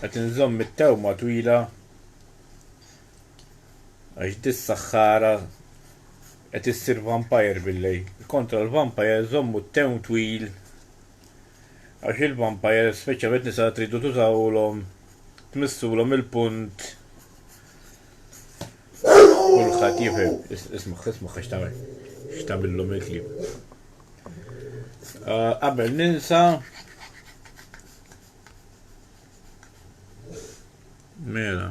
Qed inżomm it-tewma twila għax di s-saħħara qed issir vampire bil-lejl. Kontra l-vampire żommu t-tewm twil għax il-vampire, speċjalment nisa tridu tużawlhom, tmissulhom il-punt. Kulħadd jifhem. Isma' isma' għax tagħmel x'tagħmilhom il-klieb. Ah, qabel ninsa Mela.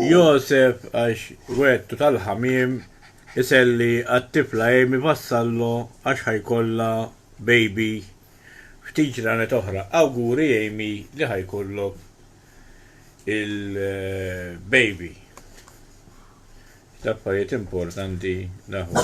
Josef għax wettu tal-ħamim iselli għat-tifla Amy vassallu għax ħajkolla baby ftit ġranet oħra. Awguri Amy li ħajkollok il-baby. Taffariet importanti naħu.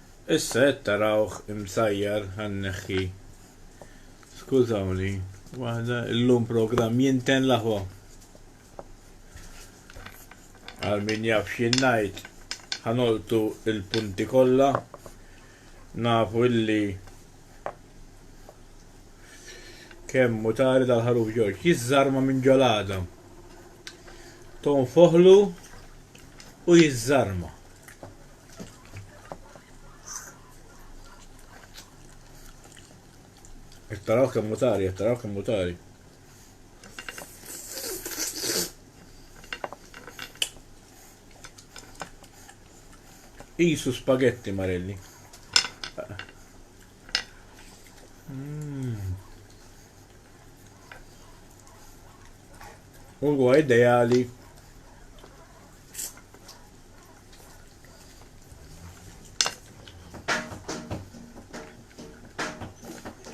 Issa qed tarawh imsajjar ħa nneħħi skużawni waħda illum programm jinten l-aħwa. Għal min jaf x'jien ngħid ħanoltu l-punti kollha nafu illi kemm mutari dal-ħaruf Ġorġ jiżżarma minn ġolada. Tonfoħlu u jiżżarma. Qed taraw kemm mutari, qed taraw kemm mutari. Isu spaghetti marelli. Mm. Huwa ideali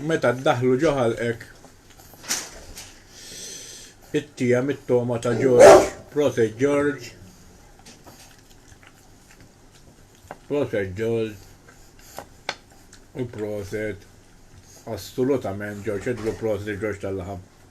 Meta ddaħlu ġo ħalqek it-tija mit-toma ta' George, Prote George, Prote George, u proset assolutament George, edlu proset George tal-laħam.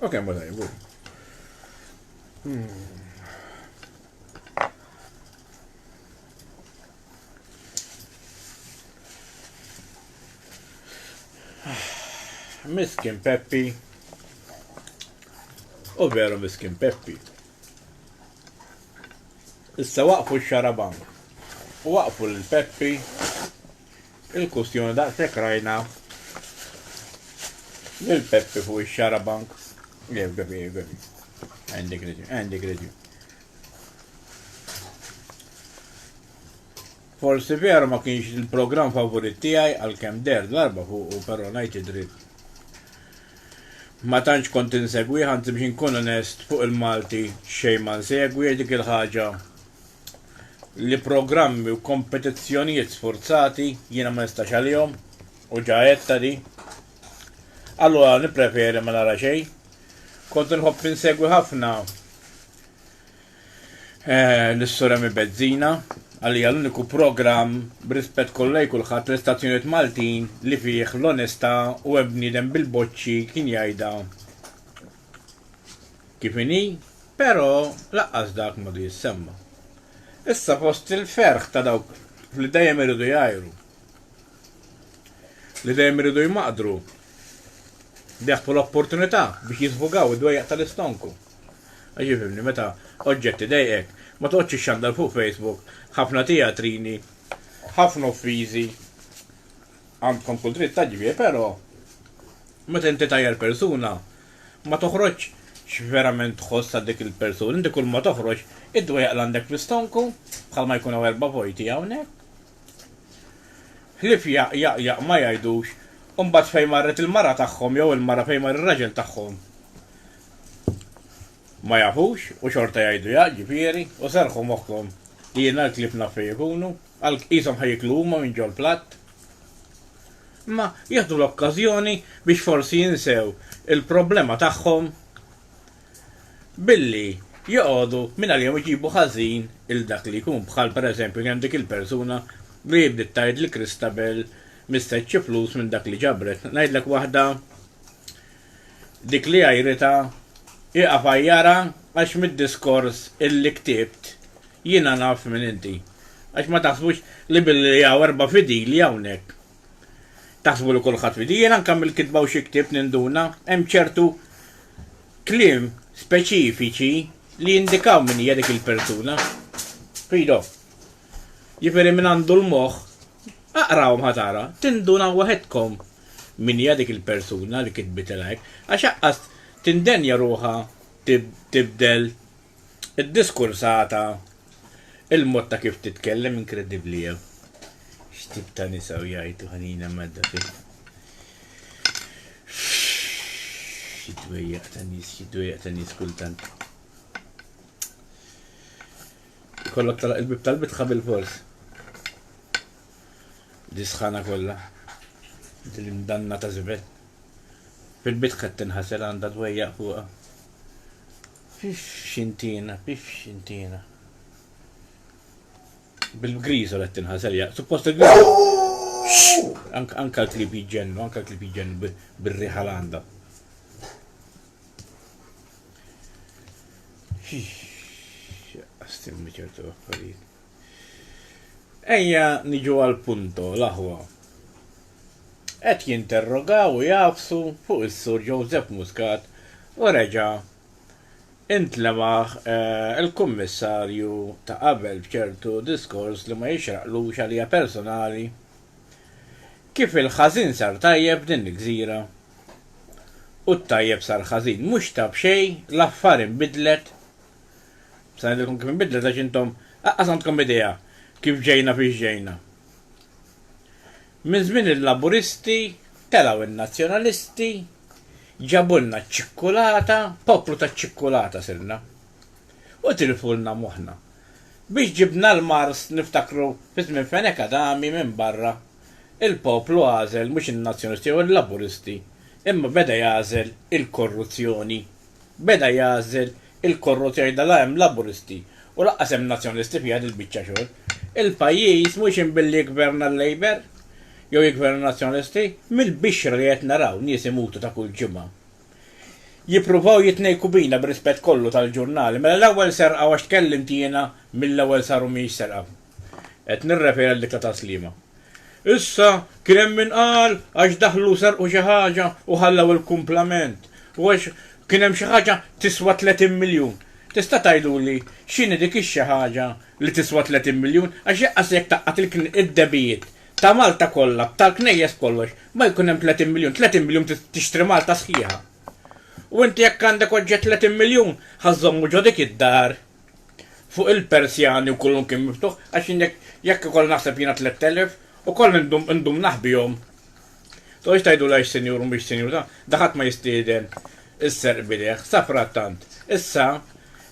Ok, ma daj, bu. Miskin Peppi. U veru miskin Peppi. Issa waqfu x-xarabank. U waqfu l-Peppi. Il-kustjoni daqshekk rajna lil Peppi fuq ix-xarabank. Jef Gabi, jef Gabi. Għandek reġun, għandek reġun. Forsi veru ma kienx il-programm favorit tiegħi għalkemm der darba fuq u però ngħid id-dritt. Ma tantx kont insegwi ħanti biex inkun onest fuq il-Malti xejn ma nsegwi dik il-ħaġa li programmi u kompetizzjonijiet sfurzati jiena ma nistax għalihom u ġa għedtha di. Allura nippreferi ma nara xejn. Kont inħobb insegwi ħafna eh, l-Suremi Bezzina għalija l-uniku programm b'rispett kollha kulħadd l-istazzjonijiet Maltin li fih l-onestà u hemm bniedem bil-boċċi kien jgħidha kif inhi, però lanqas dak m'għadu jissemma. Issa fost il-ferħ ta' dawk li dejjem iridu jgħajru, li dejjem iridu jmaqdru, bieħbu l-opportunità biex jiżbugaw id-dwejjaq tal-istonku. Għax ifhimni, meta oġġett idejqek, ma toqgħodx ixxandar fuq Facebook ħafna tijatrini, ħafna uffiżi, għandkom kull dritt taġbih, però Meta inti tgħajjar persuna, ma toħroġx x'verament tħoss għal dik il-persuna, inti kull ma toħroġ id-dwejjaq li għandek fl-istonku, bħalma jkun hawn erba' vojti hawnhekk. Ħlief jaq, jaq, jaq ma jgħidux, u mbagħad fejn marret il-mara tagħhom jew il-mara fejn mar ir-raġel tagħhom ma jafux u xorta jgħidu jaq, ġifieri, u serrħu moħħkom li jiena l-klieb naf fejn ikunu. Għalhekk qishom ħa jieklu huma minn ġol-platt. Imma jieħdu l-okkażjoni biex forsi jinsew il-problema tagħhom billi joqogħdu mingħalihom iġibu ħażin 'il dak li jkun. Bħal pereżempju kien hemm dik il-persuna li bdiet tgħid li Christabel mistedx xi flus minn dak li ġabret. Ngħidlek waħda dik li għajritha hi għafajjara għax mid-diskors illi ktibt jiena naf min inti. Għax ma taħsbux li billi hawn erba' fidili hawnhekk taħsbu li kulħadd fidi. Jien anke mill-kitba u xi ktibt ninduna hemm ċertu kliem speċifiċi li jindikaw min hija dik il-persuna. Fido. Jifieri min għandu l-moħħ Aqrahom ħa tara, tindunaw waħedkom min hija dik il-persuna li kitbitilha hekk, għax aqqas tindenja ruħha tibdel id-diskursata, il-mod ta' kif titkellem inkredibbli hija. X'tip ta' nisa u jgħajtu ħanina medda fi. Xi dwejjaq ta' nies, xi dwejjaq ta' nies kultant. Ikollok tagħlaq il-bieb tal-bitħa bilfors. Di sħana kollha. Di l-imdanna ta' żibel. Fil-bitħa qed tinħasel għandha dwejjaq fuqha. Pif xintina, pif xintina. Bil-griżol qed tinħasel jaq. Suppost il-griżol. Anka l-klib jġennu, anka l-klib jġennu bir-riħa l-għandha. Għastimni ċertu affarijiet. Ejja niġu għal punto l-aħwa. Qed jinterrogaw u jafsu fuq is-Sur Joseph Muscat u reġa' intlemaħ eh, il-Kummissarju ta' qabel b'ċertu diskors li ma jixraqlux għalija personali. Kif il-ħażin sar tajjeb din il-gżira u t-tajjeb sar ħażin. Mhux ta' b'xejn l-affar inbidlet. Sa ngħidilkom kif inbidlet għax intom aqqas għandkom idea kif ġejna fiex ġejna. Minn żmien il-Laburisti telgħu n-Nazzjonalisti, ġabulna ċ-ċikkulata, poplu taċ-ċikkulata sirna. U tilfulna moħħna. Biex ġibna l-Mars niftakru fi żmien Fenech Adami minn barra Il-poplu għażel mhux in-Nazzjonisti jew il-Laburisti, imma beda jagħżel il-korruzzjoni. Beda jagħżel il-korruzzjoni da la hemm Laburisti u lanqas hemm Nazzjonisti fiha din il-biċċa xogħol. Il-pajjiż mhux hemm billi jiggverna l-Labour jew jiggverna n-Nazzjonisti. Mill-bixra li qed naraw nies imutu ta' kull ġimgħa. Jippruvaw jitnejku bina bir-rispett kollu tal-ġurnali. Mela l-ewwel serqa u għax tkellimt jiena mill-ewwel saru mhijiex serqa. Qed nirreferi għall-ikla ta' Sliema. Issa, kien hemm min qal għax daħlu u serqu xi ħaġa u ħallew il-kumplament, u għax kien hemm xi ħaġa tiswa 30 miljun. Tista' tgħiduli x'inhi dik ix-xi ħaġa li tiswa 30 miljun? Għax jaqqas jekk tgħaqqad id-debijiet ta' Malta kollha, tal-knejjes kollox, ma jkun hemm 30 miljun. 30 miljun tixtri Malta sħiħa. U inti jekk għandek oġġett 30 miljun, ħa żżommu ġo dik id-dar fuq il-Persjani u kullu kien miftuħ, għax jien jekk jekk ikoll naħseb jiena tlett elef, ukoll indum indum naħbihom. Toqgħodx tgħiduli għax sinjur u mhix sinjur, da da ħadd ma jistieden is-serq b'idejh. Safrattant, issa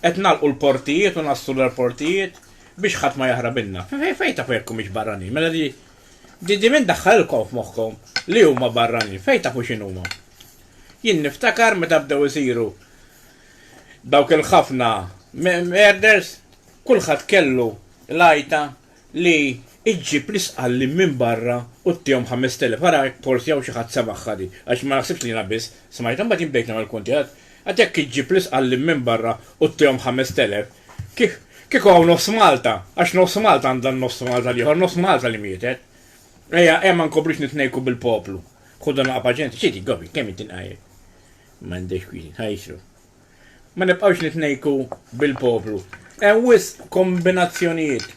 qed nagħlqu l-portijiet u nassru l-airportijiet biex ħadd ma jaħrab ilna. Fe fejn tafu jekk humiex barranin? Mela di di di min daħħalilkom f'moħħkom li huma barranin? Fejn tafu x'inhuma? Jien niftakar meta bdew isiru Dawk il-ħafna merders, kulħadd kellu l-għajta li ġġib l-isqallin minn barra u ttihom ħamest elef. Ara jekk forsi hawn xi ħadd semagħha di, għax ma naħsibx li jiena biss smajtha. Mbagħad jien bdejt nagħmel kunti, għedt, Għad jekk iġġib l-isqallin minn barra u ttihom ħamest elef, kieku hawn nofs Malta, għax nofs Malta għandha n-nofs Malta l-ieħor, nofs Malta li mietet. Ejja, ejja ma nkomplux nitnejku bil-poplu. Ħu dan l-aqgħa paċenzja. Xi dik, Gobi, kemm int tinqajjed? M'għandekx kwieti tħajjsru. Ma nibqgħux nitnejku bil-poplu. Hemm wisq kombinazzjonijiet.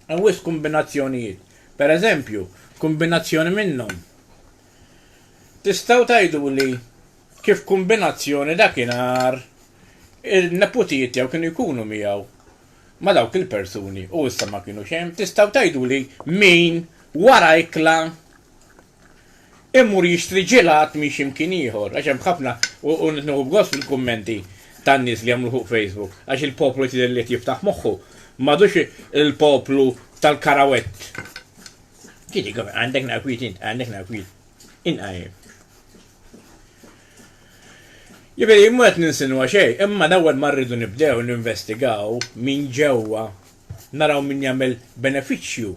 Hemm wisq kombinazzjonijiet. Per eżempju, kombinazzjoni minnhom. Tistgħu tgħiduli kif kombinazzjoni dakinhar il-neputijiet tiegħu kienu jkunu miegħu ma' dawk il-persuni u issa ma kinux hemm. Tistgħu tgħiduli min wara ikla Immur jixtri ġilat minn xi mkien ieħor, għax hemm ħafna, u qed nieħu b'gost fil-kummenti tan-nies li jagħmlu fuq Facebook, għax il-poplu qed jidher li qed jiftaħ moħħu, m'għadux il-poplu tal-karawett. Tieni kumment, għandek naqwiet int, għandek naqwiet. Inqajjem. Jiġifieri mhu qed ninsinwa xejn, imma l-ewwel ma rridu nibdew ninvestigaw minn ġewwa naraw min jagħmel benefiċċju.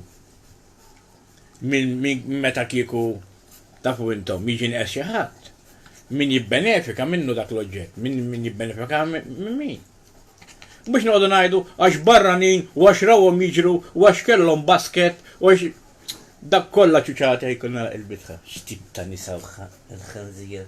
minn min meta kieku tafu intom jiġi nqes xi ħadd. Min jibbenefika minnu dak l-oġġett, min min jibbenefika minn min. Mhux noqogħdu ngħidu għax barranin u għax rawhom jiġru u għax kellhom basket u għax dak kollha ċuċata jkun nagħlaq il-bitħa. X'tip ta' nisa l-ħanżir.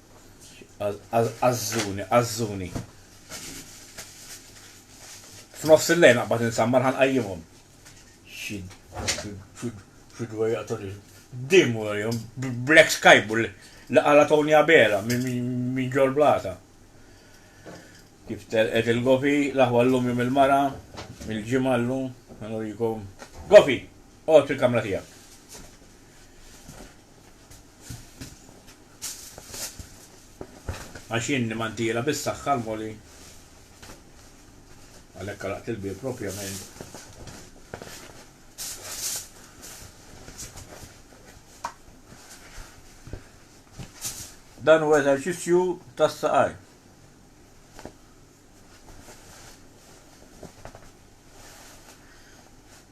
Azzuni, azzuni. F'nofs il-lejn naqbad insammar ħan qajjimhom. Xi fidwa jaqtuni. Dim warjom Black Skybu li qala Tony Abela minn ġol blata. Kif telqet il-gofi, l-aħwa llum jum il-mara, il-ġimgħa llum, nurikom. Gofi, qgħod fil-kamra tiegħek. Għax jien nimmantiela bis-saħħa l-Moli. Għalhekk għalaqt il-bieb proprjament. Dan huwa eżerċizzju tas-saqajn.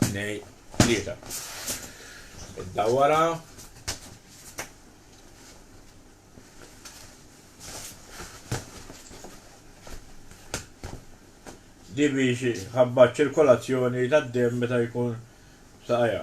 Tnej, tlieta. Iddawwarha. Di biex ħabba ċ-ċirkolazzjoni tad-demm meta jkun f'saqajha.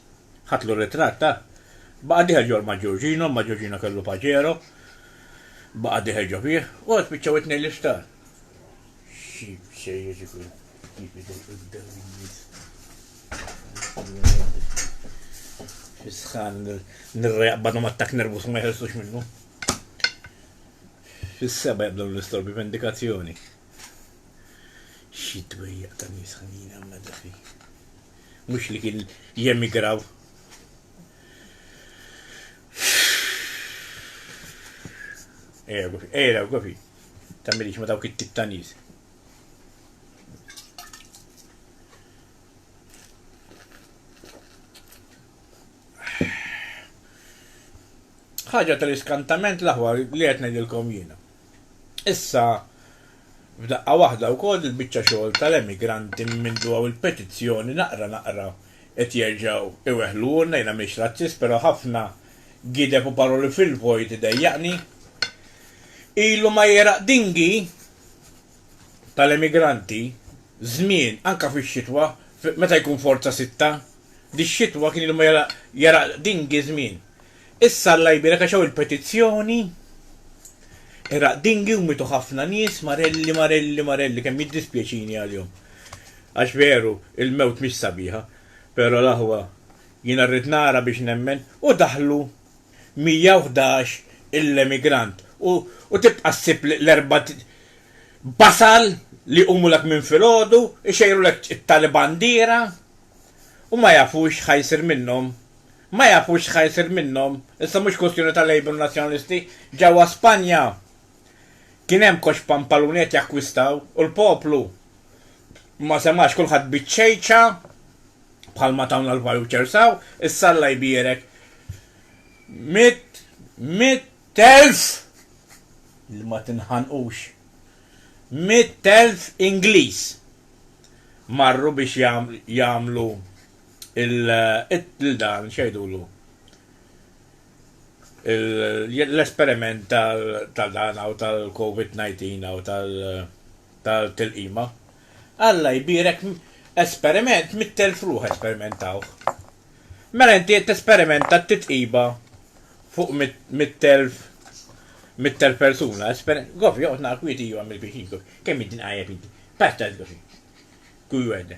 Ħadtlu r-ritratt, ah! Baqa' dieħel ġol ma' Giorgino, imma Giorgino kellu Pajero. Baqa' dieħel ġo fih. U spiċċaw it-tnejn l-isptar. Xi bsejjes ikun kif idejqu jibdew in-nies. Xi sħan nirra jaqbadhom attakk nervus ma jeħelsux minnu. Fis-seba' jibdew l-istorbi vendikazzjoni. Xi dwejjaq ta' nies ħanina mnedda fih. mhux li kien jemigraw. Ejra Gofi, ejra Gofi, tagħmilix ma dawk it-tip ta' nies. ħaġa tal-iskantament l-aħwa li qed ngħidilkom jiena. Issa, f'daqqa waħda wkoll il-biċċa xogħol tal-emigranti minn mindu hawn il-petizzjoni naqra naqra qed jerġgħu iweħħluhulna, jiena m'iniex razzist però ħafna gideb u paroli fil-vojt idejjaqni. Ilu ma jegħraq dingi tal-emigranti żmien, anke fix-xitwa, meta jkun forza sitta, dix-xitwa kien ilu ma jegħraq dingi żmien. Issa Alla jbierek għax hawn il-petizzjoni. Iraq Dinghy u mietu ħafna nies, marelli, marelli, marelli, kemm jiddispjaċini għalihom. Għax veru, il-mewt mhix sabiħa, pero l-aħwa jiena rrid nara biex nemmen, u daħlu 111 il-emigrant u tibqa' ssib l-erbat basal li jqumulek minn filgħodu, ixejrulek it-tali bandiera u ma jafux x'ħa jsir minnhom Ma jafux x'ħa jsir minnhom. Issa mhux kwistjoni ta' Labour u Nazzjonalisti. Ġewwa Spanja kien hemm koxx pampaluni qed jakkwistaw u l-poplu ma semax kulħadd biċ-ċejċa bħalma tawna l-vouchers hawn, issa Alla jbierek mitt mitt elf li ma tinħanqux mitt elf Ingliż marru biex jagħmlu lil dan, x'jgħidulu, l-esperiment ta' dan hawn tal-Covid 19 hawn tal-tilqima. Alla jbierek esperiment mitt elf ruħ esperimentawh. Mela inti qed tesperimenta t-titqiba fuq mitt elf mitt elf persuna, gofi joqgħod nara kwiet iju għamil kwiet iju, kemm inti nqajjeb inti. Paċ ta' żgofi. Kuj wegħda.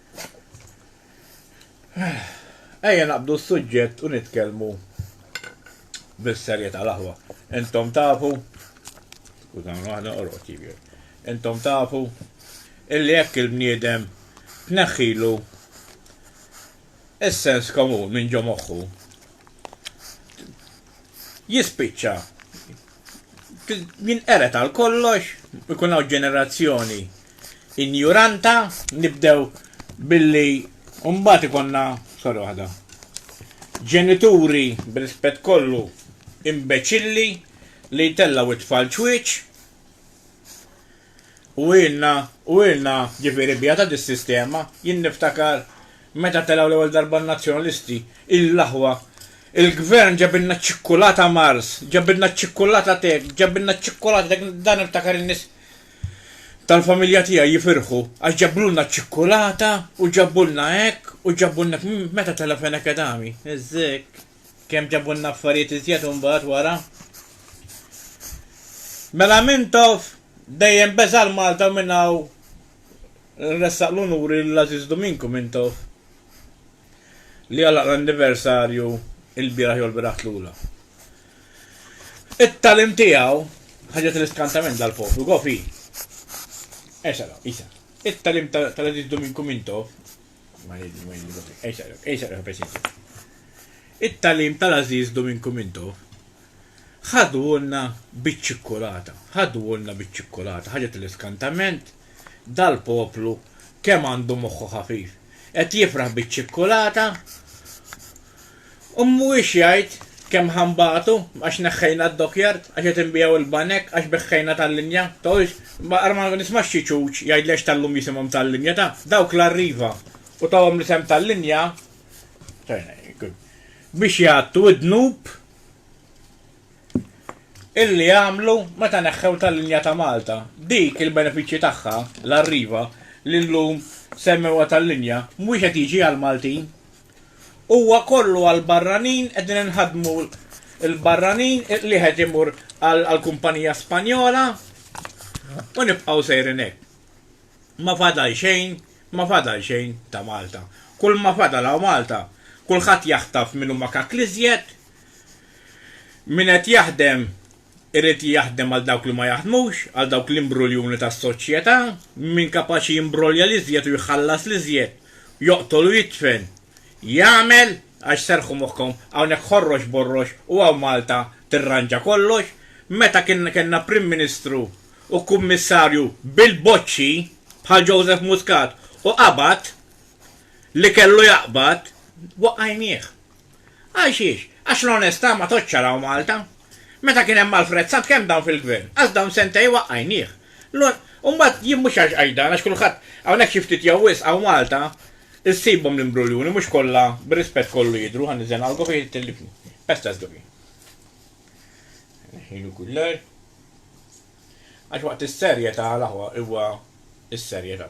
Ejja naqbdu s-suġġett u nitkellmu bis-serjetà l-aħwa. Intom tafu, skużawni waħda orqod jibjer, intom tafu illi jekk il-bniedem tneħħilu is-sens komun minn ġo moħħu, jispiċċa jinqered għal kollox, ikun hawn ġenerazzjoni injuranta, nibdew billi mbagħad ikonna sorry waħda. Ġenituri b'rispett kollu imbeċilli li jtellgħu t-tfal ċwieċ. U ilna, u ilna, ġifieri bjata dis-sistema, jien niftakar meta telgħu l-ewwel darba n-Nazzjonalisti, il-aħwa, il-Gvern ġabilna ċ-ċikkulata Mars, ġabilna ċ-ċikkulata t'hekk, ġabilna ċ-ċikkulata t'hekk, dan niftakar in-nies tal-familja tiegħi jifirħu għax ġabulna ċ-ċikkulata u ġabulna hekk u ġabulna hekk, meta tela' Fenech Adami, eżekk. Kemm ġabulna affarijiet iżjed imbagħad wara. Mela Mintoff dejjem beża' l-Malta u minn hawn nressaq l-unuri lil Għażiż Duminku Mintoff li għalaq l-anniversarju il-bieraħ jew il-bieraħ tlula. It-tagħlim tiegħu ħaġet l-iskantament dal-poplu, gof hi. Esala, isa. It-tagħlim tal-Għażiż Duminku Mintoff It-tagħlim tal-għażiż Duminku Minto ħadulna biċ-ċikkulata, ħadulna biċ-ċikkulata, ħaġa tal-iskantament, dal-poplu kemm għandu moħħu ħafif. Qed jifraħ biċ-ċikkulata? U mhuwiex jgħid, Kemm ħa nbatu, għax neħħejna d-dockyard, għax qed inbiegħu il-banek, għax beħħejna tal-linja, tgħidx, Ma ara ma nismax xi ċuċ jgħidli għax tal-lum jisimhom tal-linja, ta, dawk l-Arriva, u tawhom l-isem tal-linja, biex jgħattu d-dnub illi għamlu meta neħħew tal-linja ta' Malta. Dik il-benefiċċji tagħha, l-Arriva, li llum semmewha tal-linja, mhuwiex qed jiġi għall-Maltin. Huwa kollu għall-barranin, qegħdin inħaddmu l-barranin, l-wieħed imur għall-kumpanija Spanjola u nibqgħu sejrin hekk. Ma fadal xejn, ma fadal xejn ta' Malta. Kull ma fadal hawn Malta, kulħadd jaħtaf min huma kakl iżjed, min qed jaħdem Irid jaħdem għal dawk li ma jaħdmux, għal dawk l-imbruljuni tas-soċjetà, min kapaċi jimbrolja l-iżjed u jħallas l-iżjed, joqtol u jidfen, jagħmel, għax serrħu moħħkom, hawnhekk ħorrox borrox u hawn Malta tirranġa kollox, meta kien kellna Prim Ministru u Kummissarju bil-boċċi bħal Joseph Muscat u qabad li kellu jaqbad, waqajnieh. Għal xiex? Għax l-onestà ma tgħoddx araw Malta. Meta kien hemm Alfred Sant kemm dawn fil-Gvern? Għaż dawn sentej waqqajnieh. L-un. U mbagħad jien mhux għax qajdan għax kulħadd hawnhekk xi ftit jew wisq hawn Malta issibhom l-imbruljuni mhux kollha bir-rispett kollu jidhru ħa niżżen għal Gofi tellifni. Pestas Gofi. Neħħilu kuller. Għax waqt is-serjetà l-aħwa huwa is-serjetà.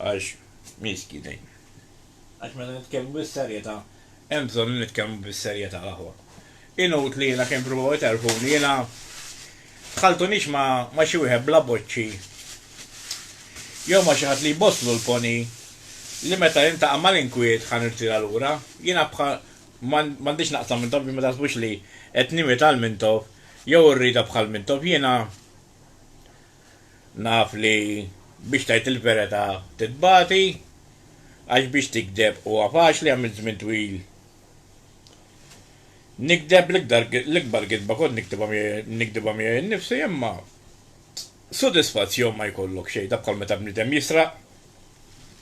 Għax miski dejjem. Għax meta nitkellmu bis-serjetà, hemm bżonn li nitkellmu bis-serjetà l-aħwa. Inut li jiena kemm provaw iterfuni, jiena tħalltunix ma' xi wieħed bla boċċi jew ma' xi ħadd li jbosslu l-poni li meta niltaqa' mal-inkwiet ħa nirtira lura. Jiena bħal m'għandix naqsam Mintoff biex ma taħsbux li qed nimita 'l Mintoff jew irridha bħal Mintoff. Jiena. Naf li biex tgħid il-verità titbati, għax biex tigdeb huwa faċli għamilt żmien twil nigdeb, l-ikbar gidba kont nigdibha miegħi nnifsi imma sodisfazzjon ma jkollok xejn, dak bħal meta bniedem jisraq,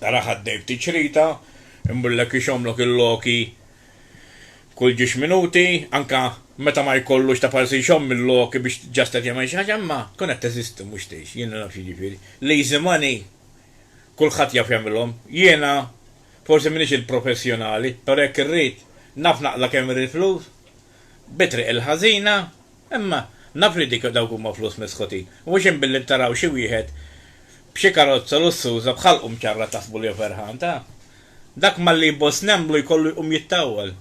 tara ħaddej ftit xrita, imur lek ixommlok il-loki, kull ġiex minuti, anke meta ma jkollux ta' palsi jxomm mil-loki biex just qed jagħmel xi ħaġa, imma tkun qed teżisti mhux tgħix, jiena naf x'jiġifieri. Lazy money kulħadd jaf jagħmilhom. Jiena forsi m'iniex il-professjonali, però jekk irrid naf naqla' kemm irrid flus, bi triq il-ħażina, imma naf li dik dawk huma flus misħutin. Mhux hemm billi taraw xi wieħed b'xi karozza lussuża b'ħalqu mċarrat taħsbu li hu ferħan, ta? Dak malli jboss nemmlu jkollu jqum jittawwal.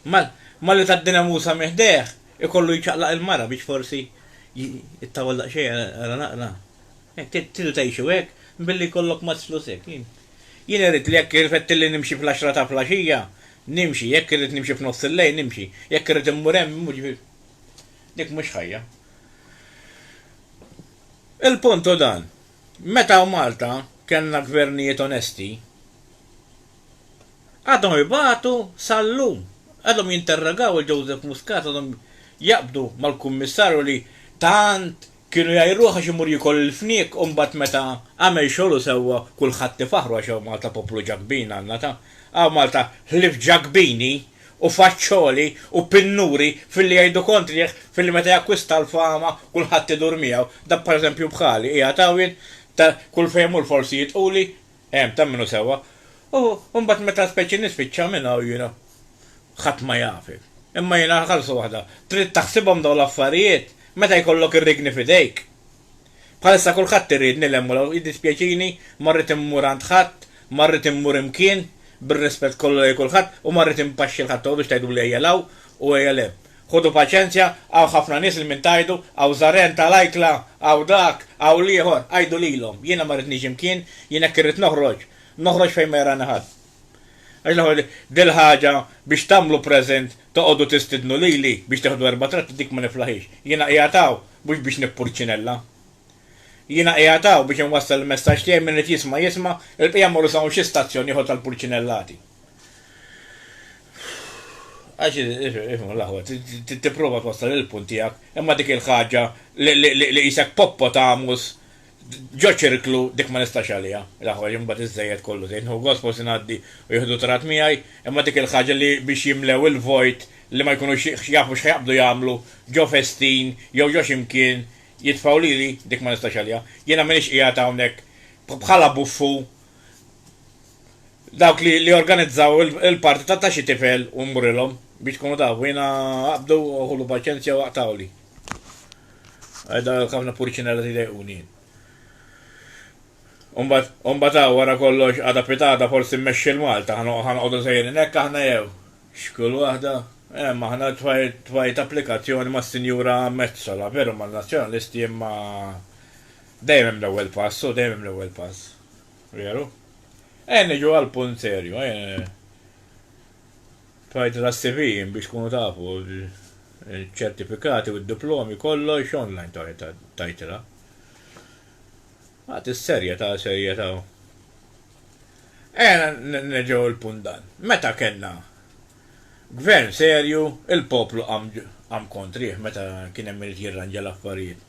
Malli tgħaddina Musa minn ħdejh, ikollu jċaqlaq il-mara biex forsi jittawwal daqsxejn ara naqra. Tridu tgħixu hekk, billi jkollok mazz flus hekk? Jien irrid li jekk irfettilli nimxi fl-għaxra ta' flaxija, nimxi, jekk irrid nimxi f'nofs il-lejl, nimxi, jekk irrid immur hemm, immur, jiġifieri, dik mhux ħajja. Il-punt hu dan, Meta Malta kellna gvernijiet onesti, għadhom ibatu sal-lum. Għadhom jinterrogaw lil Joseph Muscat, għadhom jaqbdu mal-Kummissarju li tant kienu jgħajruh għax imur jiekol il-fniek u mbagħad meta għamel xogħlu sewwa kulħadd ifaħħru għax hawn Malta poplu Ġakbin għandna ta' hawn Malta ħlief Ġakbini. u faċċoli u pinnuri filli jgħidu kontrih filli meta jakkwista l-fama kulħadd idur miegħu, dak per eżempju bħali qiegħed hawn jien ta' kull fejn mmur forsi jidquli, ehm ta' minnu sewwa, u mbagħad meta speċi nispiċċa minn hawn jiena ħadd ma jafi. Imma jiena ħarsa waħda, trid taħsibhom dawn l-affarijiet meta jkollok ir-rigni f'idejk. Bħalissa kulħadd irid nilhem u jiddispjaċini, ma rrid immur għand ħadd, ma rrid immur imkien, bir-rispett kollu lejn kulħadd, u ma rrid inpaxxi 'l ħadd biex tgħiduli ejja 'l hawn u ejja 'l hemm. Ħudu paċenzja, hawn ħafna nies li minn tgħidu, hawn żaren ta' l-ajkla, hawn dak, hawn l-ieħor, għidu lilhom, jiena ma rridniex imkien, jien hekk irrid noħroġ, noħroġ fejn ma jarani ħadd. Għax l-ħol dil-ħaġa biex tagħmlu present toqgħodu tistidnu lili biex teħdu erba' tratti dik ma niflahiex. Jiena qiegħed hawn mhux biex nippurċinella. Jiena qiegħed hawn biex inwassal il-messaġġ tiegħi min irid jisma' jisma' il-bqija mmorru sa hawn xi stazzjon ieħor tal-purċinellati. Għax ifhmu l-aħwa tipprova twassal il-punt tiegħek imma dik il-ħaġa li qisek poppotamus Ġo ċirklu dik ma nistax għaliha, l-aħħar jum mbagħad iżżejjed kollu żejt, nieħu gost forsi ngħaddi u jieħdu trat miegħi, imma dik il-ħaġa li biex jimlew il-vojt li ma jkunux jafu x'ħa jaqbdu jagħmlu ġo festin jew ġo xi mkien jitfgħu lili, dik ma nistax għaliha. Jiena m'iniex qiegħed hawnhekk bħala buffu dawk li li organizzaw il-party ta' xi tifel u nmurilhom, biex tkunu tafu, jiena aqbdu u ħulu paċenzja u aqtgħuli. Għedha kafna purċinella ti dejquni jien. Umbat, umbat għaw għara kollox għada pitada forsi mmexxi l-Malta, għan għodu sejrin ekk aħna jew. Xkull waħda? Emm, aħna tfajt applikazzjoni ma' Sinjura Metzola, veru ma' Nazzjonalisti imma dejjem hemm l-ewwel pass, u dejjem hemm l-ewwel pass. Veru? Ejja niġu għal punt serju, ejja. Tgħid l-CV biex tkunu tafu ċ-ċertifikati u d-diplomi kollox online tgħidilha. Għad is-serjetà serjetà. Ejja nerġgħu il-punt dan. Meta kellna Gvern serju il-poplu qam qam kontrih meta kien hemm irid jirranġa l-affarijiet.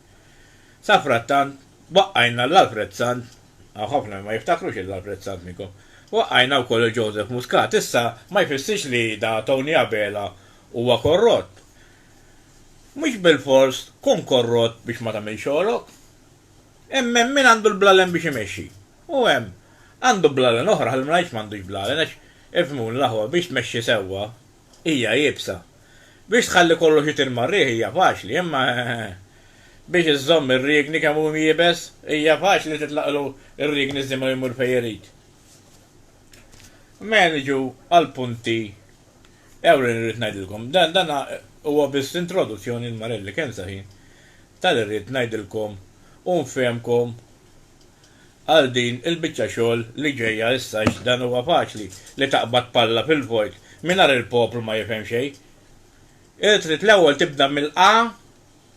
Safrattant waqqajna l-Alfred Sant Hawn ħafna li ma jiftakrux il Alfred Sannico. Waqqajna wkoll il Joseph Muscat. Issa ma jfissirx li da Tony Abela huwa korrott. Mhux bilfors tkun korrott biex ma tagħmilx xogħlok. Hemm hemm min għandu l-blalen biex imexxi. U hemm għandu blalen oħra, ħalli ma ngħidx m'għandux blalen għax, ifhmuni l-aħwa, biex tmexxi sewwa, Hija iebsa. Biex tħalli kollox itir mar-riħ hija faċli, imma biex iżżomm ir-riegni kemm hu iebes, hija faċli titlaqlu r-riegni żimgħa u jmur fejn irid. Mela niġu għall-punti ewlenin li rrid ngħidilkom. Dan dan huwa biss introduzzjoni l-marelli kemm saħin ta' li rrid ngħidilkom u nfehmkom għal din il-biċċa xogħol li ġejja issa għax dan huwa faċli li taqbad palla fil-vojt mingħajr il-poplu ma jifhem xejn. Trid l-ewwel tibda mill-A,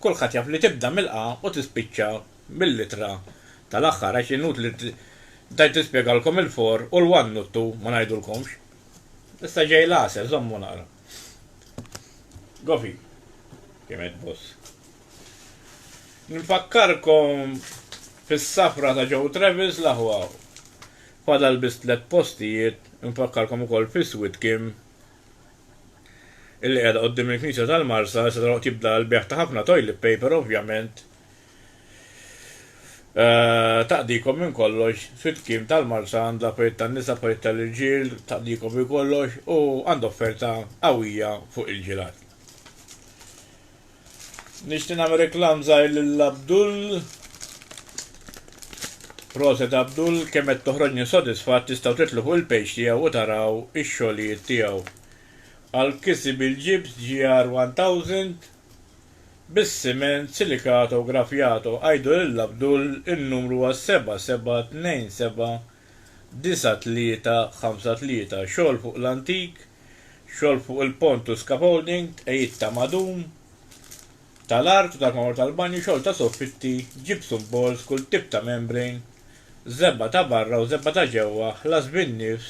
kulħadd jaf li tibda mill-A u tispiċċa mill-ittra tal-aħħar għax inutli tgħid tispjegalkom il-for u l-one u t-two ma ngħidulkomx. Issa ġej l-għasel, żommu naqra. Gofi, kiemet boss. Nfakkarkom fis-safra ta' Joe Travis l-aħwa. Fadal biss tliet postijiet, nfakkarkom ukoll fis-Sweet Kim illi qiegħda quddiem il-Knisja tal-Marsa, issa dal-waqt jibda l-bejgħ ta' ħafna toilet paper ovvjament, Taqdikom minn kollox, fit-tkiem tal-Marsa għandha parijiet tan-nisa, parijiet tal-irġiel, taqdikom minn kollox u għandha offerta qawwija fuq il-ġilat. Nixtieq nagħmel reklam żgħir lil Abdul. Proset Abdul, kemm qed toħroġni sodisfatt tistgħu titlu fuq il-page tiegħu u taraw ix-xogħlijiet tiegħu. Għall-kiseb il-ġibs GR1000 bis-siment silikato grafjato għidu lil Abdul in-numru huwa 77279353 xogħol fuq l-antik xogħol fuq il-pont u scaffolding tqegħid ta' madum tal-art u tal-marmor tal-banju xogħol ta' soffitti gypsum boards kull tip ta' membrane żebgħa ta' barra u żebgħa ta' ġewwa ħlas bin-nifs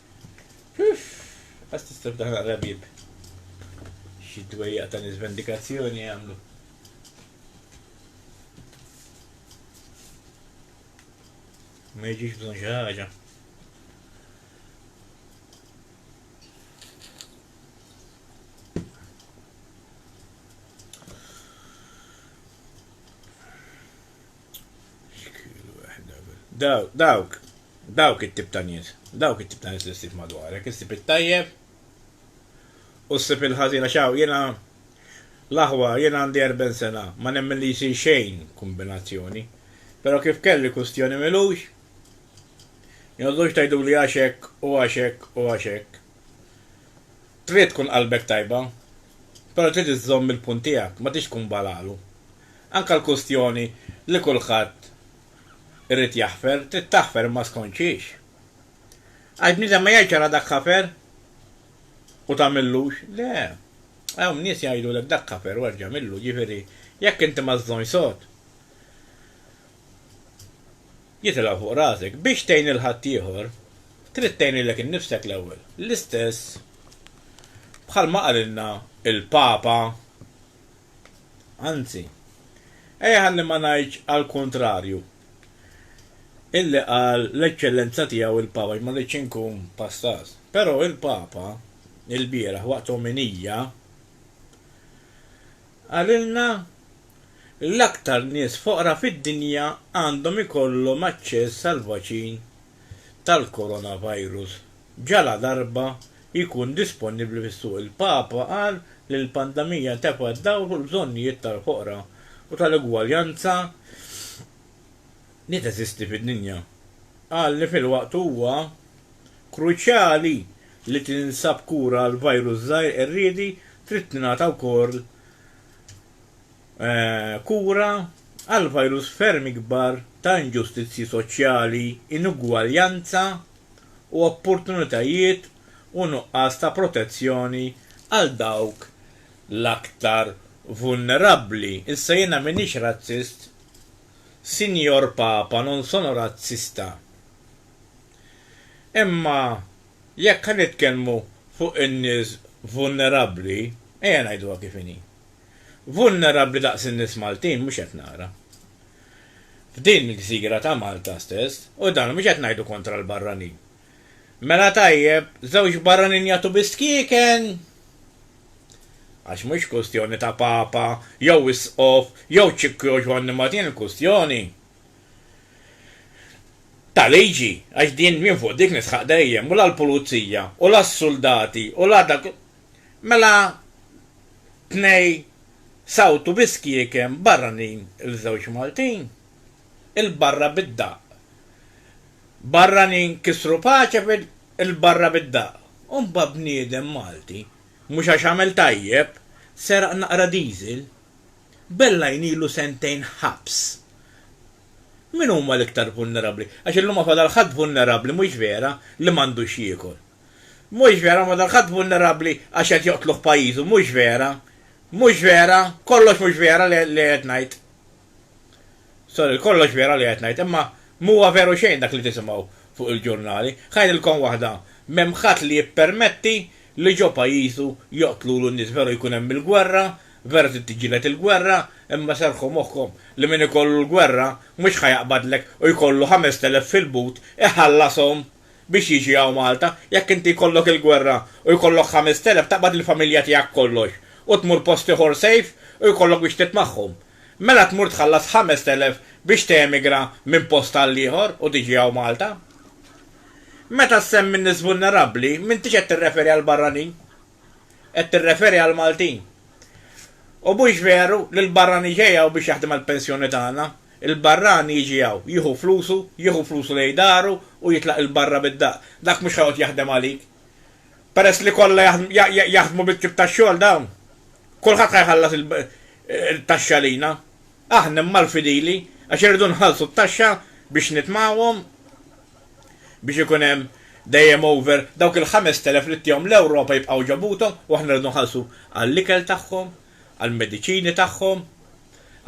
Uff! Għas tista' f'daħ naqra bieb. Xi dwejjaq ta' nies vendikazzjoni jagħmlu. Ma jiġix bżonn xi ħaġa. Dawk, dawk, dawk it-tip ta' nies, dawk it-tip ta' nies li ssib madwarek, issib it-tajjeb u ssib il-ħażin għax hawn jiena l-aħwa jiena għandi erben sena ma nemmen li jsir xejn kombinazzjoni però kif kelli kustjoni m'ilux jogħdux tgħiduli għax hekk u għax hekk u għax hekk. Trid tkun qalbek tajba però trid iżżomm il-punt tiegħek ma tridx tkun balalu. Anke l-kwistjoni li kulħadd irid jaħfer, trid taħfer imma skont xiex? Għax bniedem ma jgħidx ara dak ħafer u tagħmillux, le, hawn nies jgħidulek dak ħafer u erġa' għamillu, jiġifieri jekk inti ma żżonx sod, jitilgħu fuq rasek. Biex tgħin lil ħaddieħor, trid tgħin lilek innifsek l-ewwel. L-istess bħalma qalilna l-Papa. Anzi, ejja ħalli ma ngħidx għall-kuntrarju, illi qal l-Eċċellenza Tiegħu il-Papa, għax ma rridx inkun pastaz. Però il-Papa, ilbieraħ waqt ominija, qalilna l-aktar nies foqra fid-dinja għandhom ikollhom aċċess għall-vaċin tal-coronavirus ġaladarba jkun disponibbli fis-suq. Il-Papa qal li l-pandemija tefgħet dawl fuq il-bżonnijiet tal-foqra u tal-ugwaljanza li teżisti fid-dinja. Qal li filwaqt huwa kruċjali li tinsab kura għall-virus żgħir qerriedi trid tingħata wkoll kura għal virus ferm ikbar ta' inġustizzji soċjali, inugwaljanza u opportunitajiet u nuqqas ta' protezzjoni għal dawk l-aktar vulnerabbli. Issa jiena m'iniex razzist, Sinjor Papa, non sono razzista. Imma jekk ħa nitkellmu fuq in-nies vulnerabbli, ejja ngħiduha kif inhi. Vulnerabbli daqs in-nies Maltin mhux qed nara. F'din il-gżira ta' Malta stess, u dan mhux qed ngħidu kontra l-barranin. Mela tajjeb, żewġ barranin jagħtu biss kieken? Għax mhux kwistjoni ta' Papa, jew Isqof, jew Ċikku jew Ġwanni ma din il-kwistjoni ta' liġi, għax din jien fuq dik nisħaq dejjem, u la l-pulizija, u la s-suldati, u la dak Mela tnej sawtu bi skiekem barranin il-żewġ Maltin, il-barra bid-daqq. Barranin kisru paċe fil, il-barra bid-daqq. U mbagħad bniedem Malti, mhux għax għamel tajjeb, seraq naqra diesel, bella jnilu sentejn ħabs. Min huma l-iktar vulnerabbli? Għax illum ma fadal ħadd vulnerabbli, mhux vera, li m'għandux jiekol. Mhux vera, ma dan ħadd vulnerabbli għax qed joqtlu f'pajjiżu, mhux vera. Mhux vera, kollox mhux vera li qed ngħid. Sorry, kollox vera li qed ngħid, imma m'huwa veru xejn dak li tisimgħu fuq il-ġurnali. Ħa ngħidilkom waħda, m'hemm ħadd li jippermetti li ġo pajjiżu joqtlulu n-nies, veru jkun hemm il-gwerra, veru trid tiġġieled il-gwerra, imma serrħu moħħkom li min ikollu l-gwerra mhux ħa jaqbadlek u jkollu ħamest elef fil-but iħallashom. biex jiġi hawn Malta, jekk inti jkollok il-gwerra u jkollok ħamest elef taqbad lill-familja tiegħek kollox u tmur post ieħor safe u jkollok biex titmagħhom. Mela tmur tħallas ħamest elef biex teemigra minn post għall-ieħor u tiġi hawn Malta. Meta ssemmi n-nies vulnerabbli m'intix qed tirreferi għall-barranin. Qed tirreferi għall-Maltin. U mhux veru li l-barrani ġej hawn biex jaħdem għall-pensjoni tagħna. Il-barrani jiġi hawn, jieħu flusu, jieħu flusu lejn daru u jitlaq 'il barra bid-daqq. Dak mhux ħajqgħod jaħdem għalik. Peress li kollha jaħdmu bit-tip ta' xogħol dawn, kulħadd ħa jħallas it-taxxa għalina. Aħna imma l-fidili, għax irridu nħallsu t-taxxa biex nitmgħuhom biex ikun hemm dejjem over dawk il-ħamest elef li ttihom l-Ewropa jibqgħu ġo buthom u aħna rridu nħallsu għall-ikel tagħhom, għall-mediċini tagħhom,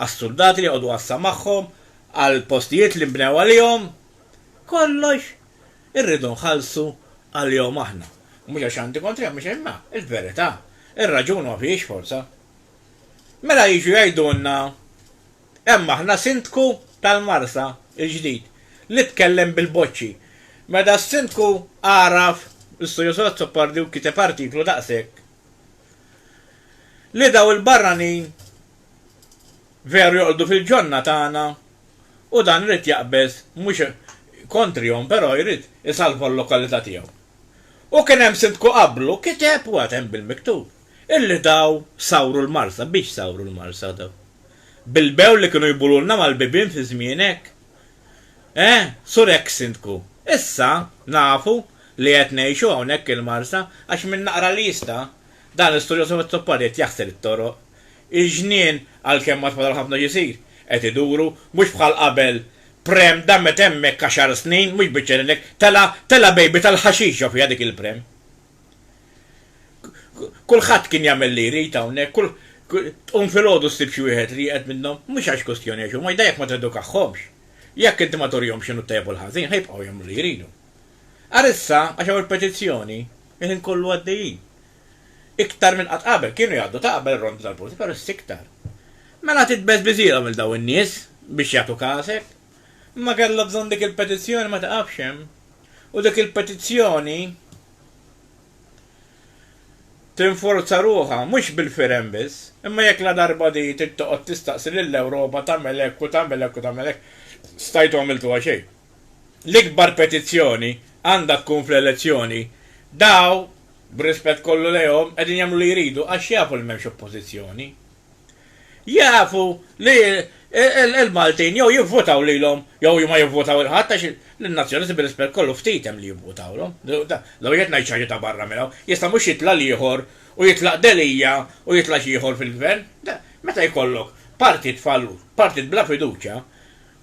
għas-suldati li joqogħdu għassa magħhom, għall-postijiet li nbnew għalihom, kollox irridu nħallsu għalihom aħna. Mhux għax għandi kontrihom, mhux imma l-verità, ir-raġun ma fihiex forza. Mela jiġu jgħidulna hemm aħna Sindku tal-Marsa l-ġdid li tkellem bil-boċċi. Meta s-Sindku għaraf, l-Istudju Sozzo Pardi u kiteb artiklu daqshekk, li dawn il-barranin veru joqogħdu fil-ġonna tagħna u dan irid jaqbeż mhux kontrihom però jrid isalva l-lokalità tiegħu. U kien hemm Sindku qablu kiteb u għad hemm bil-miktub illi dawn sawru l-Marsa. Biex sawru l-Marsa dawn? Bilbew li kienu jbululna mal-bibien fi żmienek? Eh, Sur Eks Sindku, issa nafu li qed ngħixu hawnhekk il-Marsa għax min naqra l-lista, dan l-istorjuż Orazio Pal qiegħed jaħsel it-toroq. Il-ġnien, għalkemm għad fadal ħafna x'isir, qed iduru, mhux bħal qabel, Prem damet hemmhekk għaxar snin, mhux biċċerina hekk, tela' tela' bejbi tal-ħaxixa fiha dik il-Prem. Kulħadd kien jagħmel li jrid hawnhekk, kull, tqum filgħodu ssib xi wieħed li jieqed minnhom, mhux għax kwistjoni għax huma, iżda jekk ma tedukahomx, jekk inti ma turihomx x'inhu t-tajjeb u l-ħażin, ħa jibqgħu jagħmlu li jridu. Ara issa, għax hawn il-petizzjoni, il-ħin kollu għaddejjin. Iktar minn qatt qabel, kienu jgħaddu ta' qabel ir-rondi tal-pulizija, però issa iktar. Mela titbeżbiżilhom lil dawn in-nies biex jagħtuk għasek. ma kellha bżonn dik il-petizzjoni ma tiqafx hemm u dik il-petizzjoni tinforza ruħha mhux bil-firem biss, imma jekk ladarba di trid toqgħod tistaqsi lill-Ewropa tagħmel hekk u tagħmel hekk u tagħmel hekk, stajtu għamiltuha xejn. L-ikbar petizzjoni għandha tkun fl-elezzjoni. Daw, b'rispett kollu lejhom, qegħdin jagħmlu li jridu għax jafu li m'hemmx oppożizzjoni. jafu li l-Maltin jew jivvutaw lilhom jew ma jivvutaw lil ħadd għax lin-Nazzjonisti bir-rispett kollu ftit hemm li jivvutawlhom. Law qiegħed ngħid xi ħaġa ta' barra minn hawn. Jista' mhux jitla' l-ieħor u jitlaq Delia u jitla' xi ieħor fil-Gvern? Meta jkollok partit fallur, partit bla fiduċja,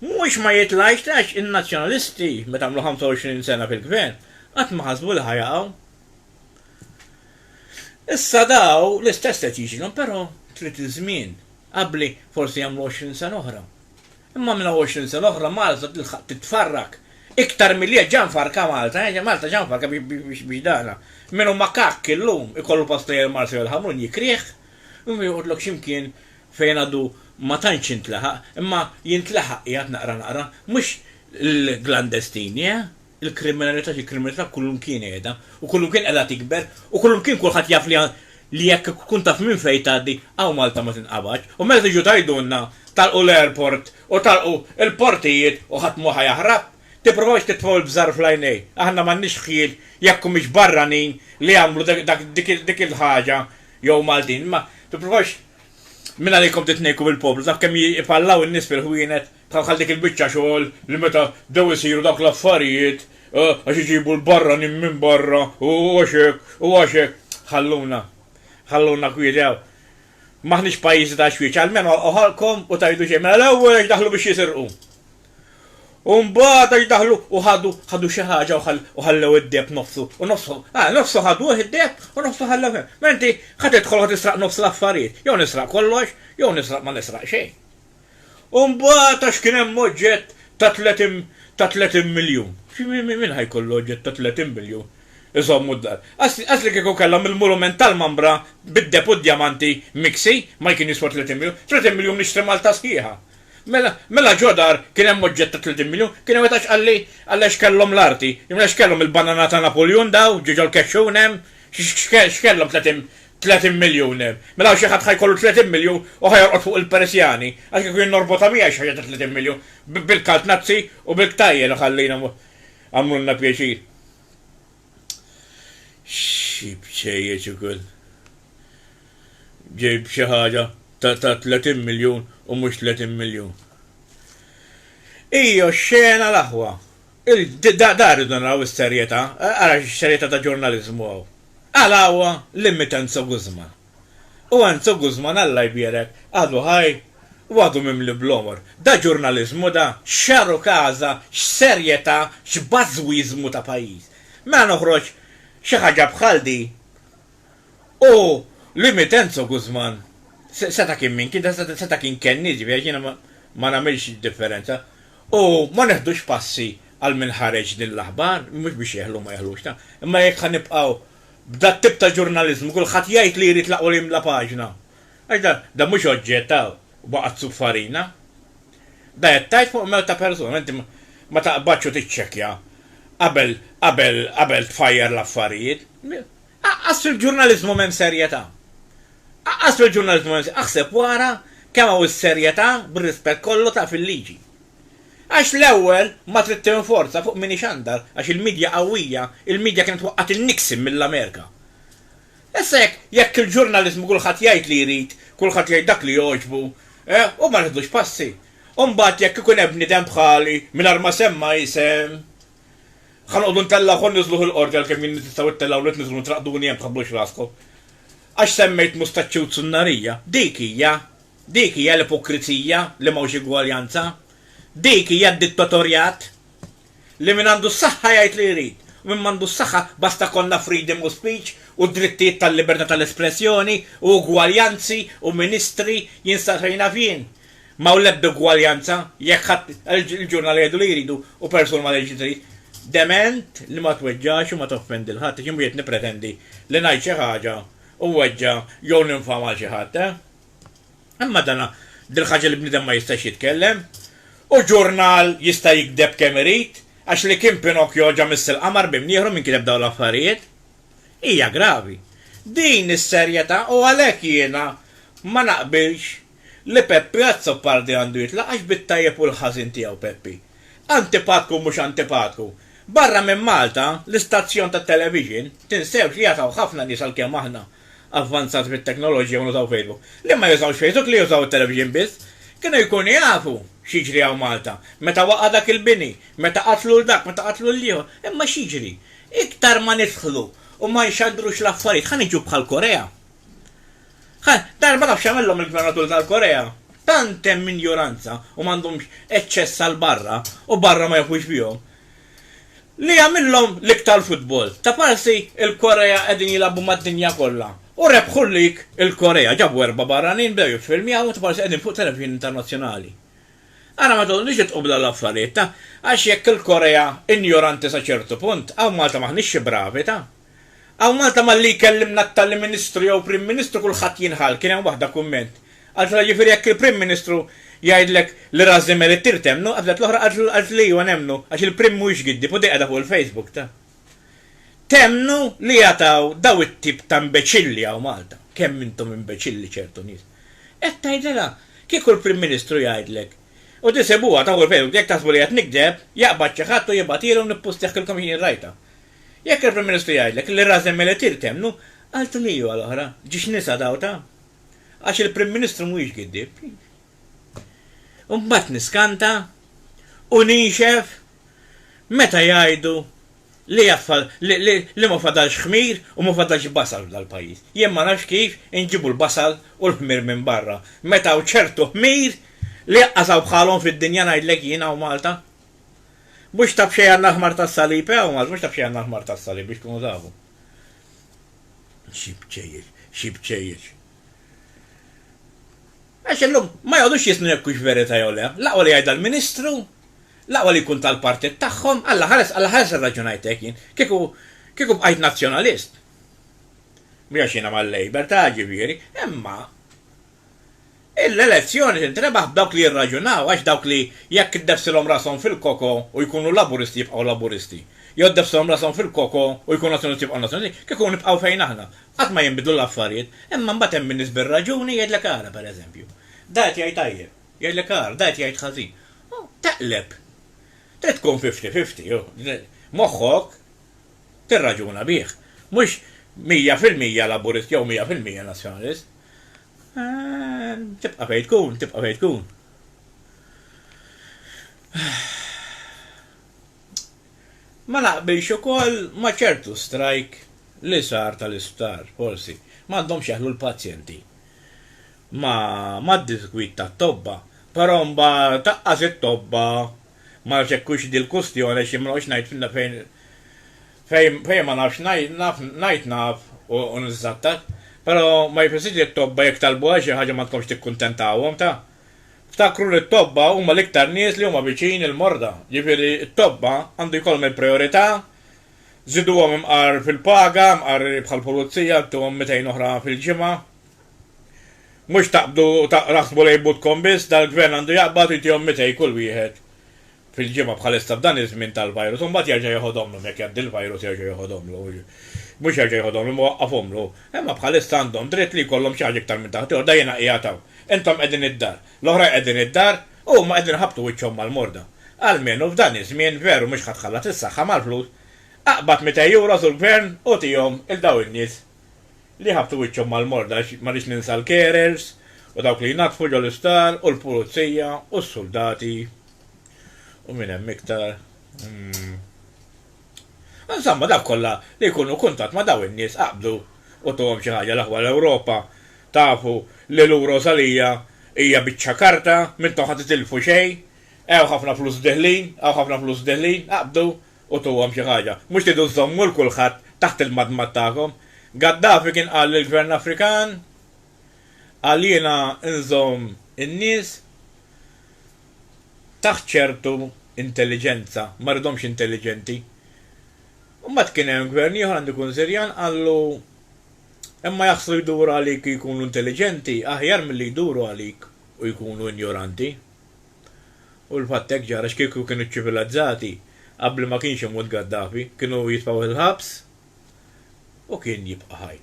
mhux ma jitlgħix għax in-Nazzjonalisti meta għamlu 25 sena fil-Gvern qatt ma ħasbu li ħa jaqgħu. Issa daw l-istess qed jiġilhom però trid iż-żmien. Qabbli forsi jagħmlu għoxrin sena oħra. Imma minn hawn għoxrin sena oħra Malta tilħaq titfarrak iktar milli hija ġa mfarrka Malta, eh, Malta ġa mfarrka biex dana. Min hu makakk illum ikollu pastajr Malta jew il-ħamrun jikrih u joqgħodlok xi mkien fejn għadu ma tantx intlaħaq, imma jintlaħaq qiegħed naqra naqra, mhux l-klandestini, eh. Il-kriminalità hi kriminalità kullimkien qiegħda u kullimkien qiegħda tikber u kullimkien kulħadd jaf li li jekk tkun taf minn fejn tgħaddi hawn Malta ma tinqabadx u meta tiġu tgħidulna tagħlqu l-airport u tagħlqu l-portijiet u ħadd mhu ħa jaħrab, tippruvawx titfgħu l-bżar fl-għajnejn. Aħna m'għandniex ħjiel jekk humiex barranin li jagħmlu dak dik dik il-ħaġa jew Maltin imma tippruvawx mingħalikom titnejku mill-poplu taf kemm ipallaw in-nies fil-ħwienet Bħal bħal dik il-biċċa xogħol li meta bdew isiru dawk l-affarijiet, għax iġibu l-barranin minn barra u għax hekk u għax hekk, ħalluna, ħalluna kwieti hawn. M'aħniex pajjiżi ta' xwieċ, almenu għalqu ħalqkom u tgħidu xejn. Mela l-ewwel għax daħlu biex jisirqu. U mbagħad għax daħlu u ħadu, ħadu xi ħaġa u ħallew id-deheb nofsu, u nofsu, ah, nofsu ħaduh id-deheb u nofsu ħallew hemm. Mela inti ħa tidħol ħa tisraq nofs l-affarijiet, jew nisraq kollox, jew nisraq ma nisraq xejn. U mbagħad għax kien hemm oġġett ta' tletin ta' tletin miljun. Min ħa jkollu oġġett ta' tletin miljun iżommu d-dar? Qas qas li kieku kellhom il-mulument tal-Mambra bid-deheb u d-djamanti miksi ma jkien jiswa tletin miljun. Tletin miljun nixtri Malta sħiħa. Mela mela ġo dar kien hemm oġġett ta' tletin miljun? Kien hemm wieħed għax qalli qalli għax kellhom l-arti. Imma x'kellhom il-banana ta' Napuljun daw ġo ġol-kexxun hemm? X'kellhom tletin 30 miljun, mela hawn xi ħadd ħa jkollu 30 miljun u ħa jorqod fuq il-Peresjani, għax kieku jien norbotha miegħi xi ħaġa ta' 30 miljun, bil-kalt Nazzi u bil-ktajjen u ħallina għamlulna pjaċir. Xi bċejjeċ ukoll. Ġejb xi ħaġa ta' 30 miljun u mhux 30 miljun. Ija xena l-aħwa. Da da rridu naraw is-serjetà, ara x-serjetà ta' ġurnaliżmu hawn. Għala huwa l-immitt Enzo Guzman? U Enzo Guzman Alla jbierek għadu ħaj u għadu mimli bl-għomor. Da ġurnaliżmu da? X'għaru każa, x'serjetà, x'bażwiżmu ta' pajjiż. Mela noħroġ xi ħaġa bħal din. u li Mitenzo Guzman seta' kien min kien, seta' kien kennies, jiġifieri għax jiena ma nagħmilx differenza, u ma neħdux passi għal min ħareġ din l-aħbar, mhux biex jeħlu ma jeħlux, imma jekk ħa nibqgħu b'dat-tip ta' ġurnaliżmu, kulħadd jgħid li jrid u jimla paġna. Għax dan, dan mhux oġġett ta' waqgħat sub farina. Dan qed tgħid fuq mewt ta' persuna, inti ma taqbadx u tiċċekkja qabel qabel qabel tfajjar l-affarijiet. Aqqas fil-ġurnaliżmu m'hemm serjetà. Aqqas fil-ġurnaliżmu m'hemm Aħseb u ara kemm hawn is-serjetà bir-rispett kollu ta' fil-liġi. Għax l-ewwel ma trid tinforza fuq min ixandar għax il-midja qawwija, il-midja kienet waqqgħet in-Nixon mill-Amerika. Issa jekk jekk il-ġurnaliżmu kulħadd jgħid li jrid, kulħadd jgħid dak li jogħġbu, eh, u ma neħdux passi. U mbagħad jekk ikun hemm bniedem bħali, mingħajr ma semma isem, Ħa noqogħdu ntellgħu ħa niżluh il-qorti għalkemm jien tistgħu ittellgħuli tniżżlu ntraqduni hemm tħabbux raskom. Għax semmejt mustaċċi u zunnarija. Dik hija. Dik hija l-ipokrizija li m'hawnx igwaljanza. Dik hija d-dittatorjat. Li min għandu s-saħħa jgħid li jrid u min m'għandu s-saħħa basta jkollna freedom of speech u drittijiet tal-libertà tal-espressjoni u ugwaljanzi u ministri jien sa fejn naf jien Ma hawn l-ebda ugwaljanza, jekk ħadd il-ġurnal jgħidu li jridu u persuna ma tgħid li trid. Dement li ma tweġġax u ma toffendi 'l ħadd, x'inhu qiegħed nippretendi li ngħid xi ħaġa u nweġġa' jew ninfama għal xi ħadd, eh? Imma dana dil-ħaġa li bniedem ma jistax jitkellem? U ġurnal jista' jigdeb kemm irid għax li kien Pinocchio ġa miss il-qamar b'imnieħru min kiteb dawn l-affarijiet? Hija gravi din is-serjetà u għalhekk jiena ma naqbilx li Peppi Azzopardi għandu jitlaq għax bit-tajjeb u l-ħażin tiegħu Peppi. Antipatku mhux antipatku. Barra minn Malta, l-istazzjon tat-television, tinsewx li jataw ħafna nies għalkemm aħna avvanzati fit-teknoloġija u nużaw Facebook, li ma jużawx Facebook li jużaw it-television biss, kienu jkunu jafu x'jiġri hawn Malta. Meta waqa' dak il-bini, meta qatlu 'l dak, meta qatlu 'l ieħor. Imma x'jiġri? Iktar ma nidħlu u ma nxandrux l-affarijiet, ħa niġu bħal Korea. Dan ma nafx jagħmilhom il-Gvernatur tal-Korea. Tant hemm injoranza u m'għandhomx eċċess għal barra u barra ma jafux bihom. Li jagħmilhom l-iktar futbol. Ta' parsi il-Korea qegħdin jilagħbu mad-dinja kollha u rebħu l-lig il-Korea. Ġabu erba' barranin, bdew jiffilmjawhom u ta' parsi qegħdin fuq televixin internazzjonali. Ara ma toqgħodux idqu b'dawn l-affarijiet ta' għax jekk il-Korea injoranti sa ċertu punt, hawn Malta m'aħniex xi bravi ta'. Hawn Malta malli jkellimna t-tali Ministru jew Prim Ministru kulħadd jinħall, kien hemm waħda kumment. Qaltilha jiġifieri jekk il-Prim Ministru jgħidlek li ras Zimmer ittir temmnu, qabżet l-oħra qaltilha ejwa nemmnu għax il-Prim mhuwiex giddib u di qiegħda fuq il-Facebook ta'. Temmnu li jataw daw it-tip ta' mbeċilli hawn Malta. Kemm intom imbeċilli ċertu nies. Hekk tgħidilha. Kieku l-Prim Ministru jgħidlek u di sibuha ta' fuq il-Facebook jekk taħsbu li qed nikdeb, jaqbad xi ħadd u jibgħatilhom nippustejaħilkom jien rajtha. Jekk il-Prim Ministru jgħidlek li Razem Meletir temmnu, għal tliu għal oħra, ġiex nisa dgħuta? Għax il-Prim Ministru mhuwiex giddieb. U mbagħad niskanta u nixef meta jgħidu li li ma fadalx ħmir u ma fadalx basal f'dal-pajjiż. Jien ma nafx kif inġibu l-basal u l-ħmir minn barra, meta hawn ċertu ħmir li aqqas hawn bħalhom fid-dinja ngħidlek jien hawn Malta. Mhux ta' b'xejn għall-aħmar tas-salib, eh, Għawmaż, mhux ta' b'xejn għall-aħmar tas-salib, biex tkunu tafu. Xi bċejjeċ, xi bċejjeċ. Għax illum ma jgħodux jisnu jekk hux verità jew le. L-aqwa li jgħidha l-Ministru, l-aqwa li jkun tal-partit tagħhom, alla ħares, alla ħares irraġunajt hekk jien. Kieku kieku bqajt Nazzjonalist. Mhux għax jiena mal-Labour, ta' ġifieri, imma L-elezzjoni tintrebaħ b'dawk li jirraġunaw għax dawk li jekk iddebsilhom rashom fil-koko u jkunu Laburisti jibqgħu Laburisti, jew ddebsilhom rashom fil-koko u jkunu Nazzjonisti jibqgħu Nazzjonisti, kieku nibqgħu fejn aħna, qatt ma jinbidlu l-affarijiet. Imma mbagħad hemm in-nies bir-raġuni jgħidlek ara, per eżempju, da qed jgħid tajjeb, jgħidlek ara, da qed jgħid ħażin. Taqleb. Trid tkun fifty fifty, moħħok. tirraġuna bih. Mhux mija fil-mija Laburist jew mija fil-mija Nazzjonalist. Tibqa' fejn tkun, tibqa' fejn tkun. Ma naqbilx ukoll ma' ċertu strajk li sar tal-isptar, forsi. M'għandhomx jeħlu l-pazjenti mad-disgwid tat-tobba, però mbagħad aqqas it-tobba Ma nafx jekk hux di l-kustjoni għax jien ma noqgħodx ngħid f'na fejn fejn fejn ma nafx ngħid naf ngħid naf u u niżżattat. Però ma jfissirx li t-tobba jekk talbuha xi ħaġa ma tkomx tikkuntentahom ta. Ftakru li t-tobba huma l-iktar nies li huma viċin il-morda. Jiġifieri t-tobba għandu jkollhom il-prijorità, żiduhom imqar fil-paga, imqar bħall-pulizija, intuhom mitejn oħra fil-ġimgħa, Mhux taqbdu u taħsbu lejn butkom biss, dal-Gvern għandu jaqbad u jtihom mitej kull wieħed fil-ġimgħa bħalissa f'dan iż-żmien tal-virus u mbagħad jerġa' jeħodhomlhom jekk jgħaddi l-virus jerġa' jeħodhomlu, mhux jerġa' jeħodhomlu imma waqqafhomlu, imma bħalissa għandhom dritt li jkollhom xi ħaġa iktar minn taħt jorda jiena qiegħed hawn, intom qegħdin id-dar, l-oħrajn qegħdin id-dar u huma qegħdin iħabbtu wiċċhom mal-morda. Almenu f'dan iż-żmien veru mhux ħa tħallat is-saħħa mal-flus, aqbad mitej euros u l-Gvern u tihom 'il dawn in-nies. li ħabbtu wiċċhom mal-mord għax ma rridx ninsa l-carers u dawk li jnaddfu ġol-isptar u l-pulizija u s-suldati u min hemm iktar mm. Insomma dawk kollha li jkunu kuntatt ma' daw in-nies aqbdu u tuhom xi ħaġa l-aħwa l-Ewropa tafu li lura u salija hija biċċa karta m'intom ħa titilfu xejn hawn ħafna flus deħlin hawn ħafna flus deħlin aqbdu Utuhom xi ħaġa. Mhux tridu żżommu 'l kulħadd taħt il-madmad tagħkom. Gaddafi kien qal lill-Gvern Afrikan, Qal jiena nżomm in-nies taħt ċertu intelliġenza, ma rridhomx intelliġenti. U mbagħad kien hemm Gvern ieħor, għandu jkun Sirjan, qallu, Imma jaħslu jduru għalik u jkunu intelliġenti aħjar milli jduru għalik u jkunu injoranti. U l-fatt hekk ġara għax kieku kienu ċċivilazzati qabli ma kienx imut Gaddafi, kienu jitfgħu fil-ħabs u kien jibqa' ħaj.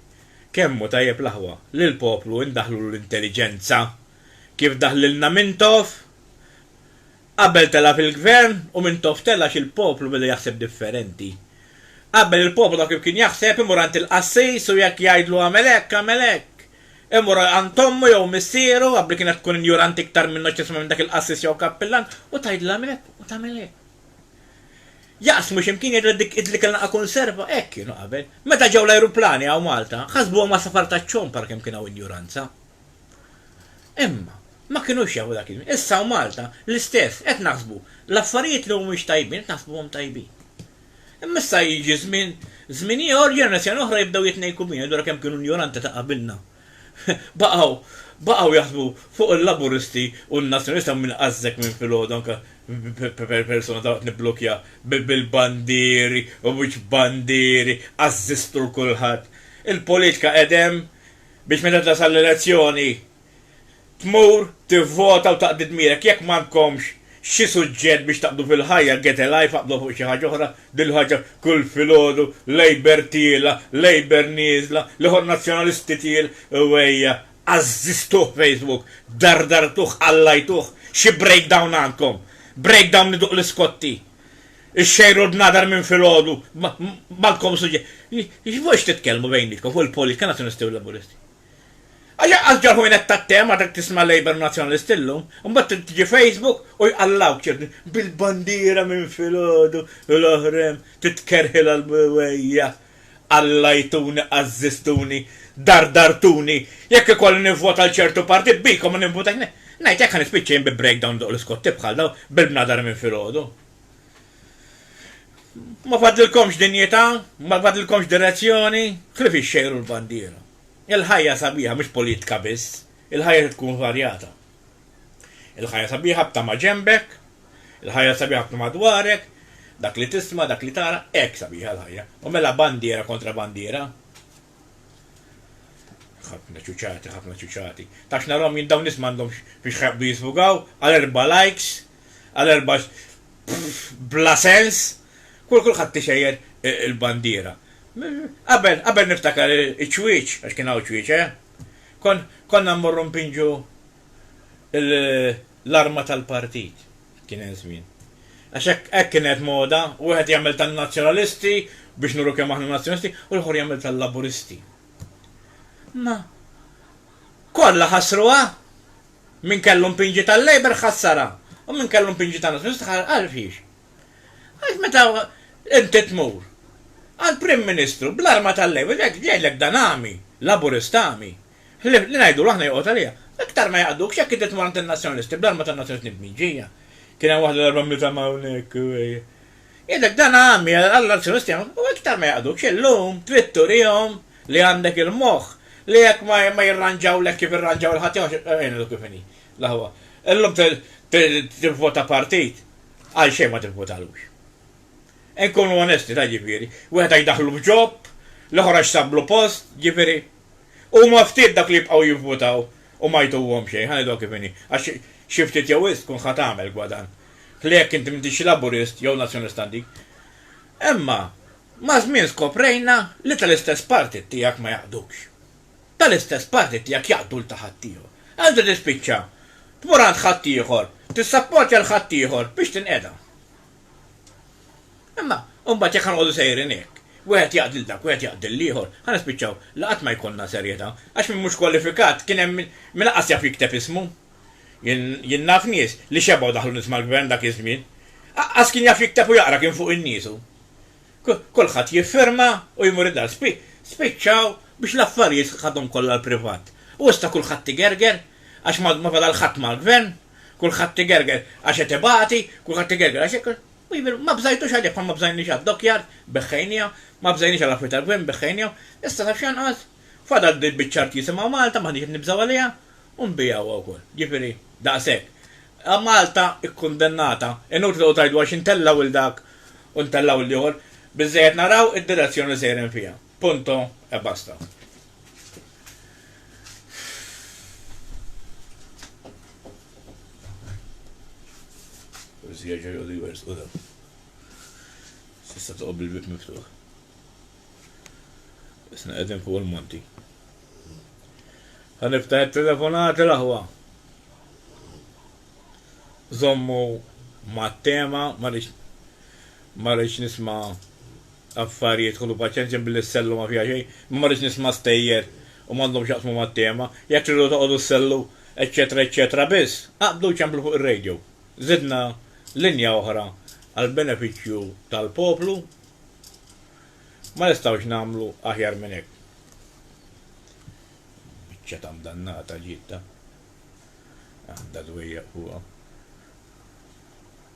Kemm hu tajjeb l-aħwa li l-poplu indaħħlulu l-intelliġenza kif daħlilna Mintoff qabel tela' fil-gvern u Mintoff tela' għax il-poplu beda jaħseb differenti. Qabel il-poplu taf kif kien jaħseb, imur għand il-qassis u jekk jgħidlu għamel hekk, għamel hekk. Imur għand ommu jew missieru, qabel kienet tkun injuranti iktar minnu x'tisma' minn dak il-qassis jew kappillan, u tgħidilhom hekk u tagħmel hekk. Jaqsmu x'imkien jgħidilha dik idli kellna qa' kunserva, hekk kienu qabel. Meta ġew l-ajruplani hawn Malta, ħasbuhom għasafar taċ-ċomp għal kemm kien hawn injuranza. Imma, ma kinux jafu dak iż-żmien. Issa hawn Malta, l-istess, qed naħsbu l-affarijiet li mhumiex tajbin qed naħsbuhom tajbin. Imma issa jiġi żmien, żmien ieħor, ġenerazzjoni oħra jibdew jitnejku bina, jidhru kemm kienu injoranti ta' qabilna. Baqgħu, baqgħu jaħsbu fuq il-Laburisti u n-Nazzjonisti hawn min għażżek minn filgħodu anke persuna dalwaqt nibblukja bil-bandieri u mhux bandieri, għażżiżtu 'l kulħadd. Il-politika qegħdem biex meta tasal l-elezzjoni Tmur, tivvota u taqdi dmirek. Jekk m'għandkomx xi suġġett biex taqbdu fil-ħajja, get a life, aqbdu fuq xi ħaġa oħra, din il-ħaġa kull filgħodu, Labour tiela', Labour nieżla, l-Iħwan Nazzjonalisti tiel, u ejja, għażżiżtuh Facebook, dardartuh, qallajtuh, xi breakdown għandkom? Breakdown iduq l-iskotti. Ixxejru l-bnadar minn filgħodu, m'għandkom suġġett. Fuq x'titkellmu bejnietkom, fuq il-politika Nazzjonalisti u Laburisti? Għax hekk qal Ġorħ Wienet tat-Te ma trid tisma' Labour u Nazzjonalisti llum, imbagħad trid tiġi Facebook u jqallgħuk ċerti bil-bandiera minn filgħodu l-oħra hemm titkerħilha l-bwejja. Qallgħajtuni, għażżiżtuni, dardartuni, jekk ikolli nivvota għal ċertu partit bikom ma nivvotax ngħid hekk ħa nispiċċa jien bi breakdown doq l-iskotti bħal dawn bil-bnadar minn filgħodu. Ma fadlilkomx dinjità, ma fadlilkomx direzzjoni, ħlief ixxejru l-bandiera. Il-ħajja sabiħa mhix politika biss, il-ħajja trid tkun varjata. Il-ħajja sabiħa b'tama ġenbek, il-ħajja sabiħa b'tama dwarek, dak li tisma', dak li tara, hekk sabiħa l-ħajja. U mela bandiera kontra bandiera? ħafna ċuċati, ħafna ċuċati. Tax narom jien dawn nisma għandhom biex ħabdu jisfugaw, għal erba likes, għal erba bla sens, kull kulħadd tixejjer e, il-bandiera. Qabel, qabel niftakar iċ-ċwieċ, għax kien hawn ċwieċ, eh? Konna mmorru mpinġu l-arma tal-partit, kien hemm żmien. Għax hekk hekk kienet moda, wieħed jagħmel tan-Nazzjonalisti biex nuru kemm aħna Nazzjonalisti u l-ieħor jagħmel tal-Laburisti. Ma kollha ħassruha! Min kellu mpinġi tal-Labour ħassarha u min kellu mpinġi tan-Nazzjonalisti ħa għal fiex? Għax meta inti tmur għall-Prim Ministru bl-arma tal-Labour jgħidlek dan għami, Laburist għami, Ħlief li ngħidulu aħna joqgħod għaliha. Iktar ma jaqdux jekk inti tmur għand in-Nazzjonalisti bl-arma tan-Nazzjonalisti mniġġija. Kien hemm waħda darba mliet għama hawnhekk. Jgħidlek dan għami, allura n-Nazzjonalisti jagħmlu. U iktar ma jaqdux. Illum trid turihom li għandek il-moħħ, li jekk ma jirranġawlek kif irranġaw il-ħaddieħor, ngħidlu kif inhi l-aħwa, illum tivvota partit, għal xejn ma tivvotalux. Inkunu onesti, ta' jiġifieri, wieħed għax daħlu f'job, l-ieħor għax sablu post, jiġifieri. Huma ftit dak li jibqgħu jivvutaw u ma jtuhom xejn, ħa ngħidilhom kif inhi, għax xi ftit jew wisq tkun ħa tagħmel gwadann. Ħlieh jekk inti m'intix Laburist jew Nazzjonalista Antik. Imma maż-żmien skoprejna li tal-istess partit tiegħek ma jaqdux. Tal-istess partit tiegħek jaqdu 'l ta' ħaddieħor. Inti tispiċċa tmur għand ħaddieħor, tissapportja 'l ħaddieħor biex tinqeda. Imma mbagħad jekk ħa noqogħdu sejrin hekk, wieħed jaqdi 'l dak, wieħed jaqdi 'l ieħor, ħa nispiċċaw li qatt ma jkollna serjetà, għax min mhux kwalifikat kien hemm min lanqas jaf jikteb ismu. Jien jien naf nies li xebgħu daħlu nies mal-Gvern dak iż-żmien. Aqqas kien jaf jikteb u jaqra kien fuq in-nies hu. Kulħadd jiffirma u jmur id-dar. Spi spiċċaw biex l-affarijiet ħadhom kollha l-privat. U issa kulħadd igerger għax ma ma fadal ħadd mal-Gvern. Kulħadd igerger għax qed ibati, kulħadd igerger għax hekk. U jibir, ma bżajtux għalih bħal ma bżajniex għad-dockyard, beħħejniha, ma bżajniex għall-affarijiet tal-gvern, beħħejnihom. Issa taf x'jonqos? Fadal din biċċa art jisimha Malta, m'aħniex qed nibżgħu għaliha, u nbigħuha wkoll. Jiġifieri, daqshekk. Malta kkundennata, inutli toqgħod tgħidu għax intella' lil dak u ntella' lil ieħor, biżżejjed naraw id-direzzjoni li sejrin fiha. Punto e basta. Forsi jerġa' jgħodu jwersqu dan. S'issa toqgħod bil-bieb miftuħ. Isna qegħdin fuq il-monti. Ħa niftaħ it-telefonati l-aħwa. Żommu mat-tema ma rridx nisma' Affarijiet, ħudu paċenzja billi s-sellu ma fiha xejn. Ma marridx nisma' stejjer u m'għandhomx x'jaqsmu mat-tema. Jekk tridu toqogħdu ssellu eċċetera eċċetera biss, aqbdu ċemplu fuq ir-radio. Żidna linja oħra għall-benefiċċju tal-poplu. Ma nistgħux nagħmlu aħjar minn hekk. Biċċa ta' mdannata ġiet ta. Għandha dwejjaq fuqha.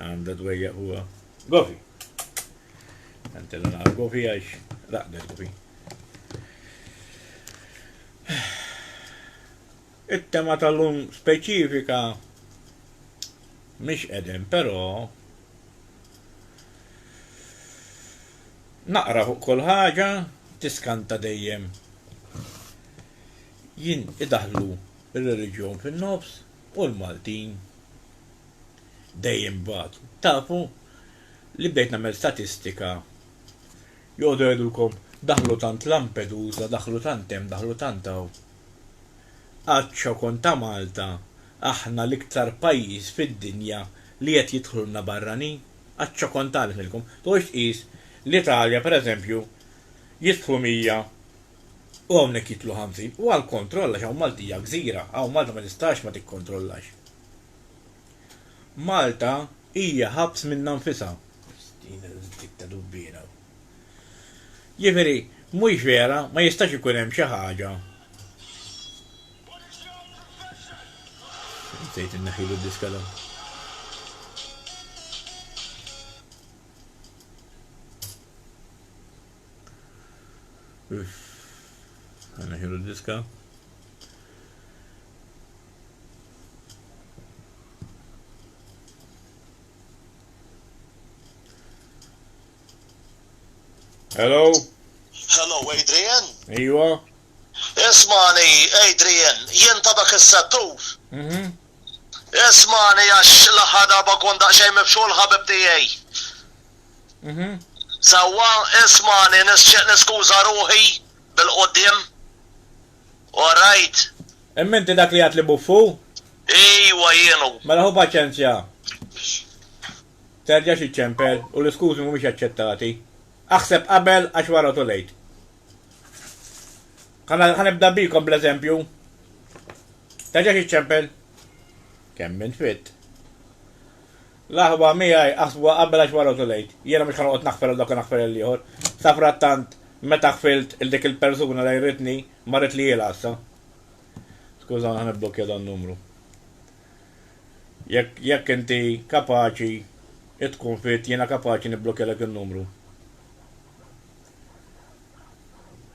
Għanda dwejja huwa. Gofi. Għantella naqa gofi għax raqdet gofi. It-tema tal-lum speċifika mish edem, pero naqra fuq kol ħaġa tiskanta dejjem. Jien idaħlu il-reliġjon fin-nofs u l-Maltin dejjem batu. Tafu li bdejt nagħmel statistika joqogħdu jgħidulkom daħlu tant Lampedusa, daħlu tant hemm, daħlu tant hawn. Għad x'kont ta' Malta aħna l-iktar pajjiż fid-dinja li qed jidħlulna barranin? Għad x'kont għalek ngħidilkom. Tqogħodx tqis l-Italja pereżempju jidħlu 100 u hawnhekk jidħlu ħamsin, u għall-kontroll għax hawn Malti hija gżira, hawn Malta ma tistax ma tikkontrollax. Malta hija ħabs minnha nfisha. Din il-tip ta' dubbi jien hawn. Jiġifieri, mhux vera, ma jistax ikun hemm xi ħaġa Insejt inneħħilu d-diska dan. Għana ħiru diska. Hello? Hello, Adrian? Iwa? Ismani, Adrian, jien ta' dak is-settur. Mhm. Ismagħni għax l-aħħar darba kont daqsxejn mibxur l-ħabib tiegħi. Mhm. Sewwa, ismagħni nixtieq niskuża ruħi bil-quddiem. All right. Imma inti dak li għedt li buffu? Ejwa jien hu. Mela ħu paċenzja. Terġax iċċempel u l-iskużi mhumiex aċċettati. Aħseb qabel għax wara too late. Ħa ħa nibda bikom bl-eżempju. Terġax iċċempel. Kemm minn fit. L-aħwa miegħi aħsbuha qabel għax wara tulejt. Jiena mhux ħanoqgħod naħfer għal dawk naħfer għal ieħor. Sa frattant meta ħfilt il dik il-persuna li jritni ma rid li jilha issa. Skuża ħa nibblokja dan numru. Jekk jekk inti kapaċi tkun fit jiena kapaċi nibblokja dak in-numru.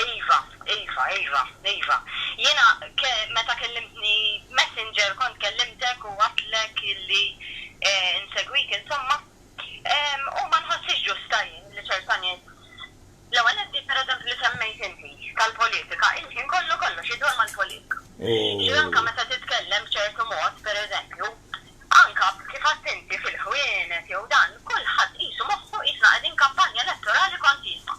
Iva, iva, iva, iva. Jiena meta kellimtni Messenger kont kellimtek u għedtlek illi insegwik insomma. U ma nħossix ġusta jien li ċerta nies, l-ewwel nett dik pereżempju li semmejt inti tal-politika, il-ħin kollu kollox idur mal-politika. Ġifieri anke meta titkellem b'ċertu mod, pereżempju, anke kif għedt inti fil-ħwienet jew dan, kulħadd qisu moħħu qisna qegħdin kampanja elettorali kontinwa.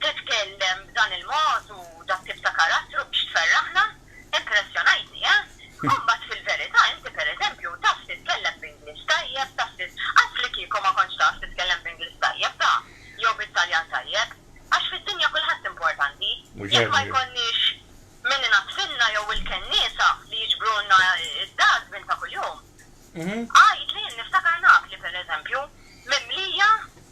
Titkellem b'dan il-mod u dat-tip ta' karattru biex tferraħna? Impressjonajtni, eh? U mbagħad fil-verità inti pereżempju taf titkellem b'Ingliż tajjeb, taf tit. Anzi li kieku ma kontx taf titkellem b'Ingliż tajjeb, ta, jew bit-Taljan tajjeb. Għax fid-dinja kulħadd importanti. Jekk ma jkollniex min inaddfilna jew il-kenniesa li jiġbrulna d-dustbin ta' kuljum. Għidli, niftakar Napli pereżempju, mimlija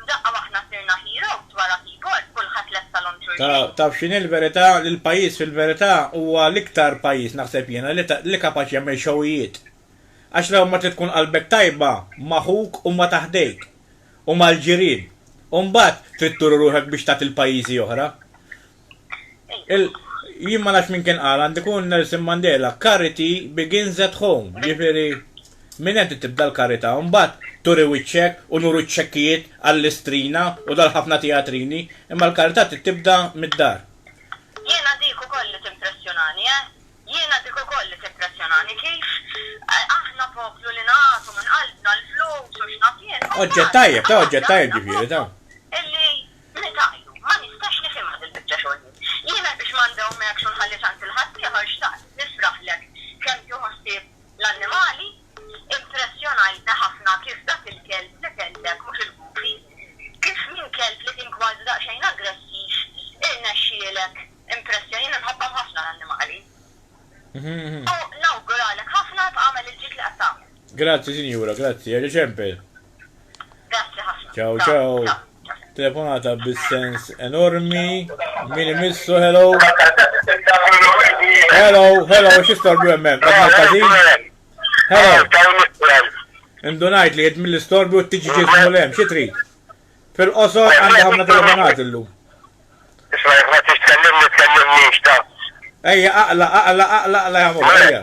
F'daqqa waħna sirna heroes wara keyboard kulħadd lesta l-unġur Ta, jgħin. taf x'inhi l-verità? Li l-pajjiż fil-verità huwa l-iktar pajjiż, naħseb jiena, li ta, li kapaċi jagħmel xowijiet. Għax l-ewwel ma trid tkun qalbek tajba ma' ħuk u ma' ta' ħdejk, u mal-ġirien, u mbagħad trid turi ruħek biex tagħti l-pajjiżi oħra. Il jien ma nafx min kien qal għandu jkun Nelson Mandela, charity begins at home, jiġifieri minn hemm trid tibda l-karità u mbagħad turi wiċċek u nuru ċ-ċekkijiet għal-Istrina u dal-ħafna tijatrini, imma l-karità trid tibda mid-dar. Jiena dik ukoll li timpressjonani, eh! Jiena dik ukoll li timpressjonani kif aħna poplu li nagħtu minn qalbna l-flus u x'naf jien, u mbagħad. Oġġett tajjeb, ta' oġġett tajjeb ġifieri, ta'. Illi Nitgħajru. Ma nistax nifhimha dil-biċċa xogħol jien. Jiena biex ma ndawmekx u nħalli tant il-ħaddieħor xtaqt nifraħlek kemm tieħu ħsieb l-annimali. Impressjonajtni ħafna kif dak il-kelb li kellek, mhux il-Goofy, kif minn kelb li kien kważi daqsxejn aggressiv irnexxielek impressjon. Jiena nħobbhom ħafna l-annimali. U nawguralek ħafna tagħmel il-ġid li qed tagħmel. Grazzi sinjura, grazzi. Jerġa' ċempel. Grazzi ħafna. Ciao ciao. Telefonata bis-sens enormi. Min imissu, hello. Hello, hello, xistorbu jemmem, għadna kazin. Hello. Indunajt li jed mill-istorbu t-tiġi ġismu l-em, xitri. Fil-qosor għandha ħafna telefonat illum. Isma' jekk ma tixtkellimni tkellimni x'ta. Ejja aqla aqla aqla aqla jagħmlu ejja.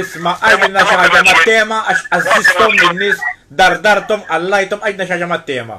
Isma, għidilna xi ħaġa mat-tema għax għażżiżthom lin-nies, dardarthom, għallajthom, għidna xi ħaġa mat-tema.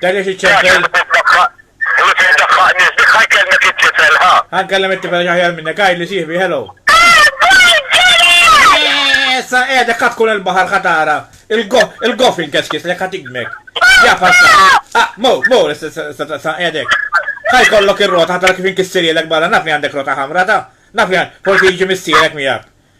Darja xi ċempel. Ħa nkellem it-tifel ġaħjar minnek, għaj li siħbi, hello. Issa qiegħda kat tkun il-baħar ħatara. Il-gofin keskis li ħat igmek. Ja passa. Ah, mo, mo, sa qiegħdek. Ħaj kollok ir-rota ħatara kif inkissirielek barra naf li għandek rota ħamra ta. Naf li forsi jiġi missierek miegħek.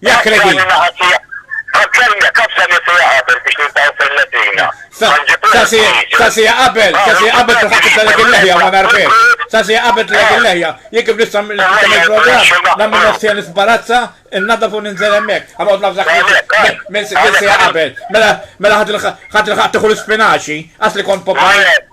Ja kretin. Għazzemja, kafza li sija qabel biex nintaw fil-letina. Ta' sija qabel, ta' sija qabel ta' ħakib tal-ek il-leħja ma narfek. Ta' sija qabel tal-ek il-leħja, jek kif nisam il-program, namlu nofsija nisbarazza, il-nadda fu ninżel emmek. Għamot nafżak minn sija qabel. Mela ħat il-ħat tuħu l-spinaċi, għas li kont popoli.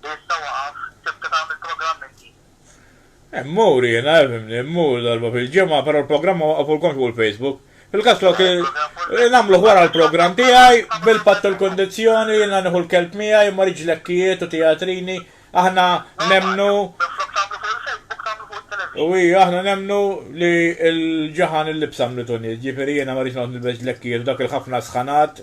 Issa waqaf, tibda tagħmel programm inti. Immur jiena, fhimni, immur darba fil-ġimgħa, però l-programm ma waqqafulkomx fuq il-Facebook. Fil-każ flok nagħmluh wara l-programm tiegħi bil-patt u l-kundizzjoni jiena nieħu l-kelb miegħi imma rridx lekkijiet u tijatrini, aħna nemmnu Minflok tagħmlu fuq il-Facebook tagħmlu fuq it-television. U hija aħna nemmnu li l-ġaħan il-libsa mlitu nies, ġifieri jiena ma rridx noqgħod nilbes lekkijiet u dak il-ħafna sħanat.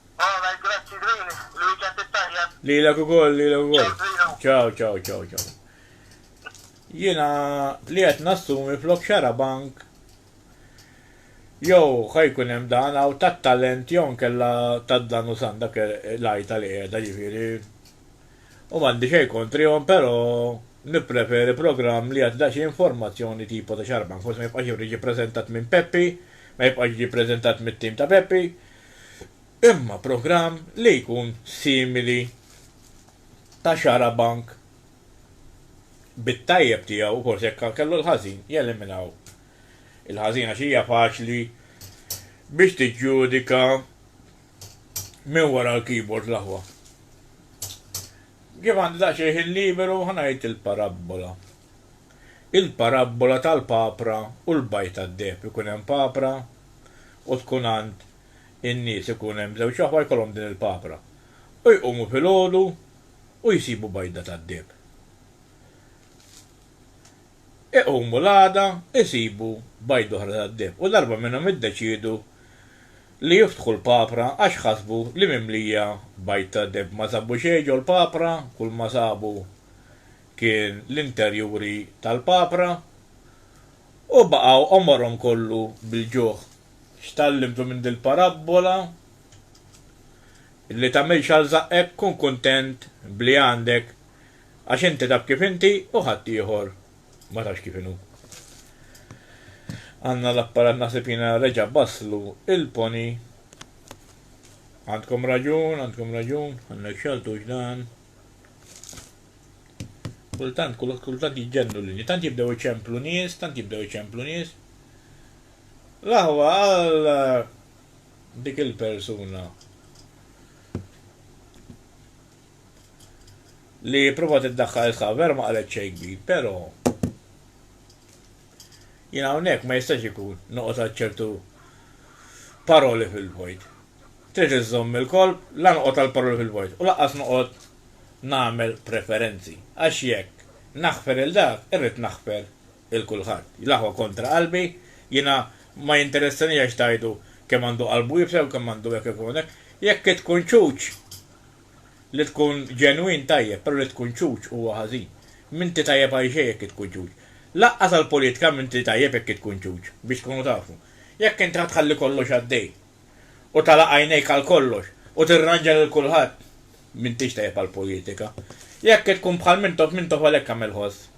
Alright, grazzi Green, l-weekend it-tajjeb. Lilek ukoll, lilek ukoll. Ciao, ciao, ciao, ciao. Jiena li qed nassumi flok xara bank jew ħajkun hemm dan hawn tat-talent jew nkella tad-dan u san dak l-għajta li qiegħda ġifieri. U m'għandi xejn kontrihom però nippreferi programm li jagħti daqsxejn informazzjoni tipo ta' xara bank forsi ma jibqax jiġi ppreżentat minn Peppi, ma jibqax jiġi ppreżentat mit-tim ta' Peppi, imma programm li jkun simili ta' xarabank bit-tajjeb tiegħu u forsi jekk kellu l-ħażin jeliminaw il-ħażin għax hija faċli biex tiġġudika minn wara l-keyboard l-aħwa. Kif għandi daqsxejn ħin liberu ħa ngħid il-parabbola. Il-parabbola tal-papra u l-bajd tad-deheb, ikun hemm papra u tkun għand in-nies ikun hemm żewġ aħwa jkollhom din il-papra u jqumu filgħodu u jsibu bajda tad-deheb. Iqumu l-għada jsibu bajda oħra tad-deheb u darba minnhom iddeċiedu li jiftħu l-papra għax ħasbu li mimlija bajd tad-deheb. Ma sabu xejn ġol-papra, kulma sabu kien l-interjuri tal-papra, u baqgħu għomorhom kollu bil-ġuħ. X'tgħallimtu minn dil-parabbola? Li tagħmilx għal żaqqek, kun kuntent b'li għandek, għax inti taf kif inti u ħaddieħor ma tafx kif inhu. Għandna l-apparat naħseb jiena reġa' basslu il-pony. Għandkom raġun, għandkom raġun, għandna x'għaltux dan. Kultant, kultant jiġġennu l-linji, tant jibdew iċemplu nies, tant jibdew iċemplu nies. L-aħwa għal eh, dik il-persuna li prova tiddaħħal il-ħav, vera ma qalet xejn kbir, però jien hawnhekk ma jistax ikun noqgħod ċertu paroli fil-vojt. Trid iżżomm il-kolp, la noqgħod għal paroli fil-vojt u lanqas noqgħod nagħmel preferenzi, għax jekk naħfer lil dak, irrid naħfer lil kulħadd. L-aħwa kontra qalbi, jiena ma jinteressanix għax tgħidu kemm għandu qalbu iebsa jew kemm għandu hekk jew kemm għandu hekk. Jekk hi tkun ċuċ, li tkun ġenwin tajjeb, però li tkun ċuċ huwa ħażin. M'inti tajjeb għal xejn jekk hi tkun ċuċ. Lanqas għall-politika m'inti tajjeb jekk hi tkun ċuċ, biex tkunu tafu. Jekk inti ħa tħalli kollox għaddej, u tagħlaq għajnejk għal kollox u tirranġa lil kulħadd, m'intix tajjeb għall-politika. Jekk tkun bħal Mintoff, Mintoff għalhekk għamel ħoss.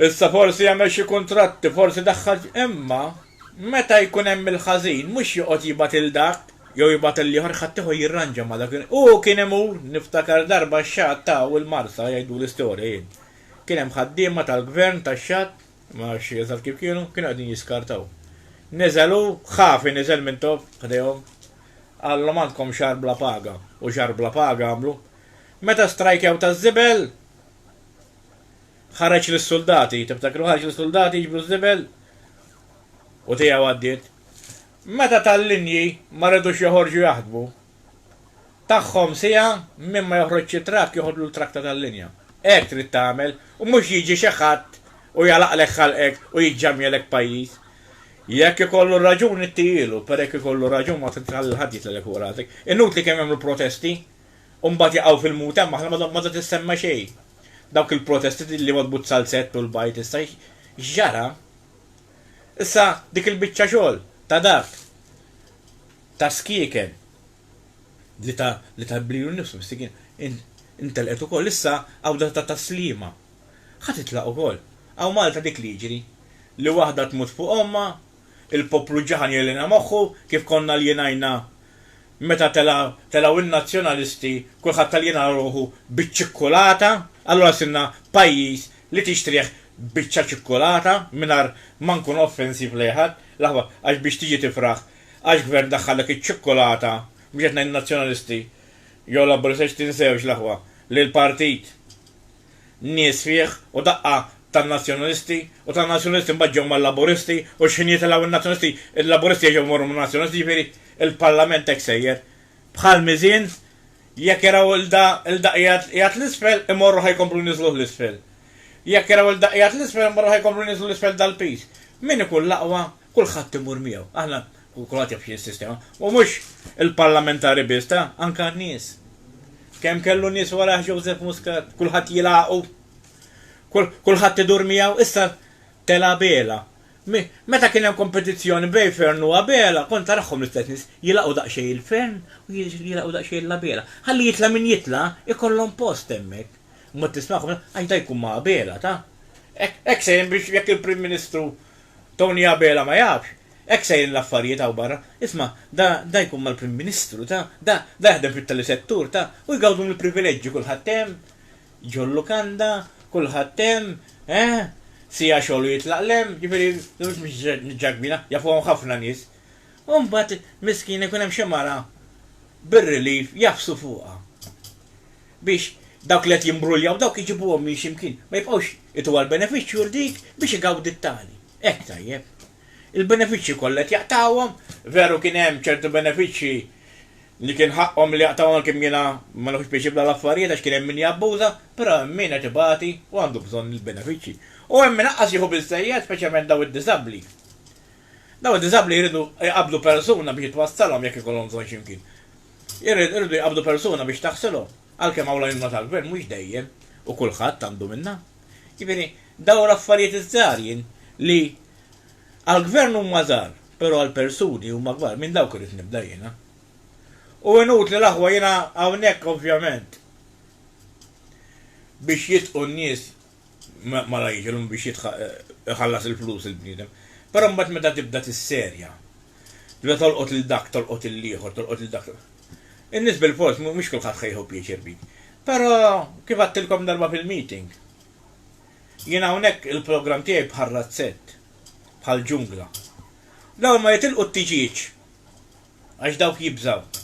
Issa forsi għamel xi kuntratti, forsi daħħal imma meta jkun hemm il-ħażin mhux joqgħod jibgħat lil dak jew jibgħat lil ieħor ħaddieħor jirranġa ma' dak. Hu kien imur, niftakar darba x-Xatt ta' u l-Marsa jgħiduli storja jien. Kien hemm ħaddiema tal-Gvern tax-Xatt Imma rxiel taf kif kienu? Kienu qegħdin jiskartaw. Niżel hu, ħafi niżel minn topp ħdejhom. Qallhom għandkom xahar bla paga. U xahar bla paga għamlu. Meta strajkjaw taż-żibel, ħareġ lis-suldati. Tiftakru ħareġ lis-suldati jiġbru ż-żibel? U tiegħu għaddiet. Meta tal-linji ma ridux joħorġu jaħdmu. tagħhom siegħa minn ma joħroġx it-trakk joħodlu l-trakta tal-linja. Hekk trid tagħmel u mhux jiġi xi ħadd u jagħlaqlek ħalqek u jiġġamjelek pajjiż. Jekk ikollu raġun ittihielu, però jekk ikollu raġun ma trid tħalli l-ħadd jitlellek fuq rasek. Inutli kemm jagħmlu protesti u mbagħad jaqgħu fil-mut hemm aħna m'għadha tissemma xejn. Dawk il-protesti li wadbu t-salsett u l-bajd issa x'ġara? Issa dik il-biċċa xogħol ta' dak ta' skieken li ta' li ta' blilu nnifsu mistikin in intelqet ukoll issa għawda ta' ta' sliema ħa titlaq ukoll hawn Malta dik li jiġri li waħda tmut fuq ommha il poplu ġaħan jellina moħħu kif konna ljenajna meta tela' telgħu in nazzjonalisti kulħadd aljena ruħu biċ ċikkulata allura sirna pajjiż li tixtrih biċċa ċikkulata mingħajr ma nkunu offensiv lejn ħadd l aħwa għax biex tiġi tifraħ Għax gvern daħħallek iċ-ċukkulata, mhux qed ngħid in-Nazzjonalisti, jew Labburista għax tinsewx l-aħwa li l-partit nies fih u daqqa tan-Nazzjonalisti u tan-Nazzjonalisti mbagħad ġew mal-Laburisti u x'ħin jitilgħu n-Nazzjonalisti il-Laburisti jerġgħu jmorru man-Nazzjonalisti jiġifieri l-Parlament hekk sejjer bħal miżien jekk jaraw il da il da qiegħed l-isfel imorru ħa jkomplu jniżżluh l-isfel. Jekk jaraw il da qiegħed l-isfel imorru ħa jkomplu jniżżlu l-isfel dal-piż. Min ikun l-aqwa Kulħadd imur miegħu. Aħna, kulħadd jaf x'inhi s-sistema. U mhux il-parlamentari biss, ta, anke n-nies. Kemm kellu nies warajh Joseph Muscat, kulħadd jilagħqu. Kulħadd idur miegħu, issa tela' Abela. Meta kien hemm kompetizzjoni bejn Fern u Abela, kont tarahom l-istess nies, jilagħqu daqsxejn il-Fern u jilagħqu daqsxejn l-Abela. Ħalli jitla' min jitla', ikollhom post hemmhekk. Mod tismagħhom, għax da jkun ma' Abela, ta? Hekk se jien biex jekk il-Prim Ministru Tony Abela ma jafx, hekk sejrin l-affarijiet hawn barra. Isma', da, da jkun mal-Prim Ministru, ta, da, da jaħdem fit-telesettur, ta, u jgawdu mill-privileġġi kulħadd hemm, ġol lukanda, kulħadd hemm, eh, siegħa xogħol u jitlaq 'l hemm, ġifieri, mhux biex niġġagbina, jafuhom ħafna nies. U mbagħad, miskina, jkun hemm xi mara bir-relief jagħfsu fuqha. biex dawk li qed jimbruljaw dawk iġibuhom minn xi mkien, ma jibqgħux itu għall-benefiċċju l-dik biex igawdi t-tali. Hekk tajjeb. Il-benefiċċji kollha qed jaqtgħuhom, veru kien hemm ċertu benefiċċji li kien ħaqqhom li jaqtgħuhom għalkemm jiena ma nieħux pjaċir b'dal-affarijiet għax kien hemm min jabbuża, però hemm min qed ibati u għandu bżonn il-benefiċċji. U hemm min aqqas jieħu biżżejjed, speċjalment dawn id-diżabbli. Dawn id-diżabbli jridu jqabbdu persuna biex twassalhom jekk ikollhom bżonn xi mkien. Irridu jqabbdu persuna biex taħsilhom, għalkemm hawn l-għajnuna tal-Gvern mhux dejjem u kulħadd għandu minnha. Jiġifieri, dawn l-affarijiet iż-żgħar jien li għall-Gvern huma żgħar, però għall-persuni huma kbar, minn dawk irrid nibda jiena. U inutli l-aħwa jiena hawnhekk ovvjament biex jitqu n-nies ma la jiġilhom biex jħallas il-flus il-bniedem. Però mbagħad meta tibda tisserja, tibda tolqot lil dak, tolqot lil ieħor, tolqot lil dak. In-nies bil-fors mhux kulħadd ħejħu pjaċir bik. Però kif għattilkom darba fil-meeting, jien hawnhekk il-programm tiegħi bħal razzett, bħal ġungla. Dawn ma jitilqu t-tiġieġ. għax dawk jibżgħu.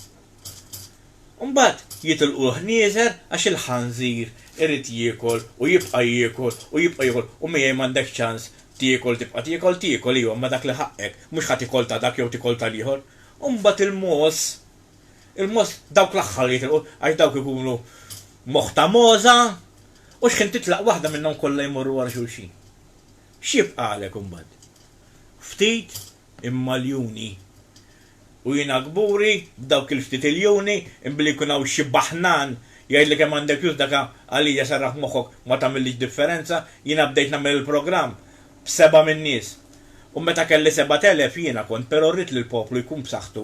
Imbagħad jitilqu l-ħnieżer għax il-ħanżir irid jiekol u jibqa' jiekol u jibqa' jiekol u miegħi m'għandek ċans tiekol tibqa' tiekol, tiekol iva imma dak li ħaqqek, mhux ħa tiekol ta' dak jew tiekol tal-ieħor. U mbagħad il-mogħoż, il-mogħoż dawk l-aħħar li jitilqu għax dawk ikunu moħħ ta' mogħoża u xħin titlaq waħda minnhom kollha jmorru wara xulxin. X'jibqagħlek imbagħad? Ftit imma ljuni. U jiena kburi b'dawk il-ftit iljuni, imma billi jkun hawn xi baħnan jgħidlek hemm għandek flus dak għalija serraħ moħħok ma tagħmillix differenza, jiena bdejt nagħmel il-programm b'seba' min-nies. U meta kelli sebat elef jiena kont, però rrid li l-poplu jkun b'saħħtu.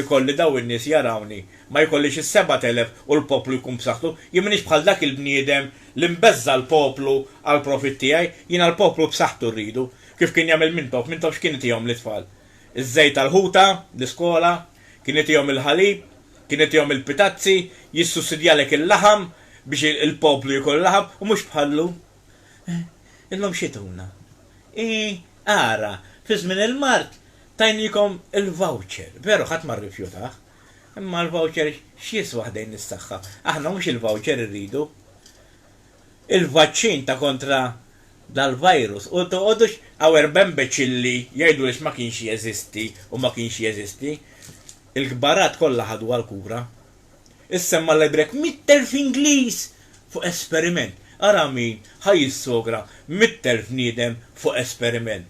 ikolli dawn in-nies jarawni, ma jkollix is-sebat elef u l-poplu jkun b'saħħtu, jien m'iniex bħal dak il-bniedem li mbeżża' l-poplu għall-profit tiegħi, jiena l-poplu b'saħħtu rridu, kif kien jagħmel Mintoff, Mintoff x'kien itihom lit-tfal? Iż-żejt tal-ħuta, l-iskola, kien itihom il-ħalib, kien itihom il-pitazzi, jissussidjalek il-laħam biex il-poplu jkun laħam u mhux bħal llum. Illum xi tuna? Ii, Ara, fi żmien il-mard tajniekom il-voucher, veru ħadd ma rrifjutah. Imma l-voucher x'jiswa ħdejn is-saħħa? Aħna mhux il-voucher irridu. Il-vaċċin ta' kontra dal-virus u toqgħodux hawn erba' imbeċilli jgħidu li x'ma kienx jeżisti u ma kienx jeżisti. Il-kbarat kollha ħaduha l-kura. Issemma' l-ebrek mitt elf Ingliż fuq esperiment. Ara min ħa jissogra mitt elf bniedem fuq esperiment.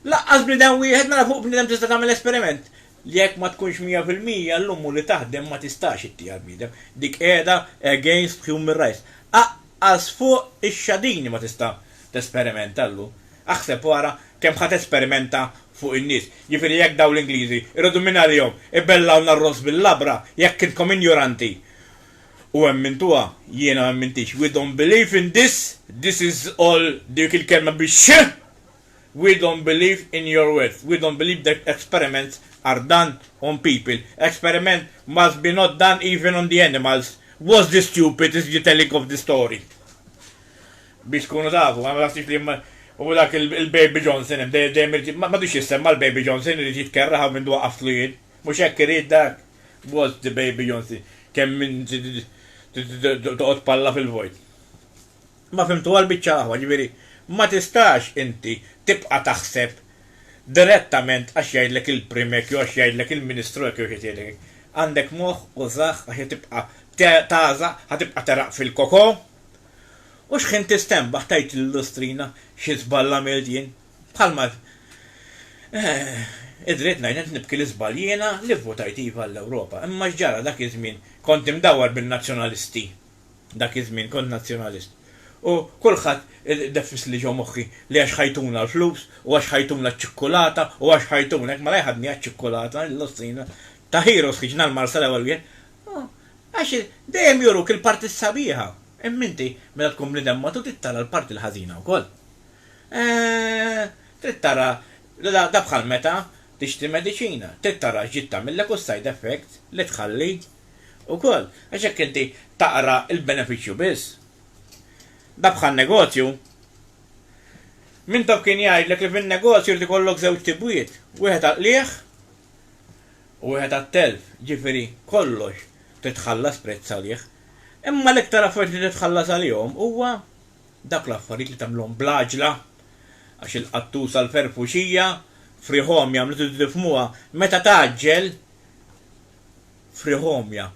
Lanqas bniedem wieħed, mela fuq bniedem tista' tagħmel esperiment? Jekk ma tkunx mija fil-mija, l-ummu li taħdem ma tistax ittih għall-bniedem. Dik qiegħda against human rights. Aqqas fuq ix-xadini ma tista' tesperimenta llum. Aħseb u ara kemm ħa tesperimenta fuq in-nies. Jiġifieri jekk dawn l-Ingliżi jridu minn għalihom ibellgħulna r-ross bil-labra, jekk intkom injoranti u emmintuha, jiena ma emmintix, we don't believe in this, this is all dik il-kelma bix-x, we don't believe in your words, we don't believe that experiments are done on people, experiment must be not done even on the animals, was the stupid is the telling of the story. Biex tkunu tafu, ma taħsibx li hu dak il-Baby Johnson hemm, dejjem irid, m'għadux jissemma l-Baby Johnson, irid jitkerraħ hawn minn dwa qaftlu jien. Mhux hekk irid dak? What's the Baby Johnson? Kemm inti toqgħod palla fil-vojt. Ma fhimtuha l-biċċa l-aħwa, ġifieri, ma tistax inti tibqa' taħseb direttament għax jgħidlek il-Prim hekk jew għax jgħidlek il-Ministru hekk jew xi ħadd jgħidlek hekk. Għandek moħħ, użah għax ħa tibqa' tagħża, ħa tibqa' teraq fil-koko, U xħin tistenbaħ tgħid lil Lustrina xi żball għamilt jien? Bħalma Id dritt ngħid qed nibki l-iżball jiena li vvutajt iva għall-Ewropa. Imma x'ġara dak iż-żmien kont imdawwar bin-nazzjonalisti. Dak iż-żmien kont nazzjonalist. U kulħadd ideffis li ġo moħħi li għax ħajtuna l-flus u għax ħajtuna ċ-ċikkulata u għax ħajtuna hekk mela jħaddni għaċ-ċikkulata, lil Lustrina, ta' heroes ħriġna l-Marsa l-ewwel wieħed. Għax dejjem juruk il-parti s-sabiħa, imma inti meta tkun bniedem matut trid tara l-parti l-ħażina wkoll. Eeh, trid tara da bħal meta tixtri mediċina, trid tara x'ġiet tagħmillek u s-side effects li tħalli wkoll. Għax jekk inti taqra l-benefiċċju biss, da bħal negozju. Mintoff kien jgħidlek li fin-negozju jrid ikollok żewġ tibwiet, wieħed għall-qligħ u wieħed għat-telf, jiġifieri kollox titħallas prezz għalih. Imma l-iktar affarijiet li titħallas għalihom huwa dawk l-affarijiet li tagħmilhom bl-għaġla, għax il-qattusa l-ferfuxija frihomja meta tridu tifhmuha, meta tgħaġġel, frihomja,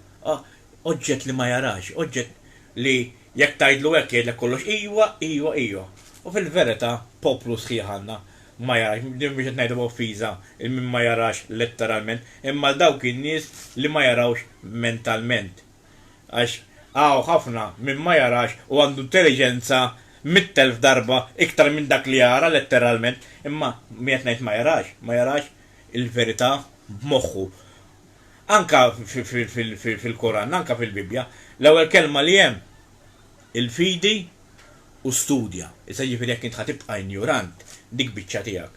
oġġett li ma jarax, oġġett li jekk tgħidlu hekk jgħidlek kollox ijwa, ijwa, ijwa. U fil-verità poplu sħiħ għandna ma jarax, din mhux qed ngħidha b'offiża 'il min ma jarax letteralment, imma għal dawk in-nies li ma jarawx mentalment. Għax hawn ħafna min ma jarax u għandu intelliġenza mitt elf darba iktar minn dak li jara letteralment, imma min qed ngħid ma jarax, ma jarax il-verità b'moħħu. Anke fil-Koran, anke fil-Bibbja, l-ewwel kelma li hemm il-fidi u studja. Issa jiġifieri jekk int ħa tibqa' injorant, dik biċċa tiegħek.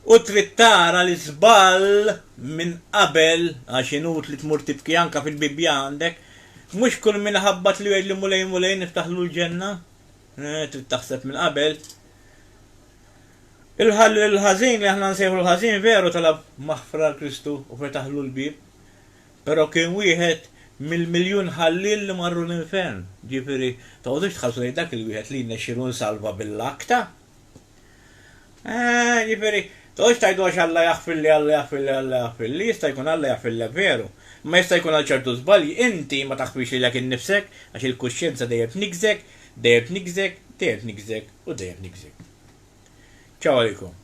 U trid tara l-iżball minn qabel, għax inutli tmur tibki anke fil-Bibbja għandek, Mhux kull min iħabbat li jgħidli Mulej, Mulej niftaħlu l-ġenna. Eh, trid taħseb minn qabel. Il-ħażin li aħna nsejħu l-ħażin veru talab maħfra l-Kristu u fetaħlu l-bieb. Però kien wieħed mill-miljun ħalliel li marru l-infern. Ġifieri, toqgħodux tħarsu lejn dak il-wieħed li jnexxielu nsalva bil-laqta. Eeh, ġifieri, toqgħodx tgħidu għax Alla jaħfirli, Alla jaħfirli, Alla jaħfirli, jista' jkun Alla jaħfirlek veru, imma jista' jkun għal ċertu żbalji inti ma taħfirx lilek innifsek għax il-kuxjenza dejjem tniggżek, dejjem tniggżek, dejjem tniggżek u dejjem tniggżek. Ciao għalikom.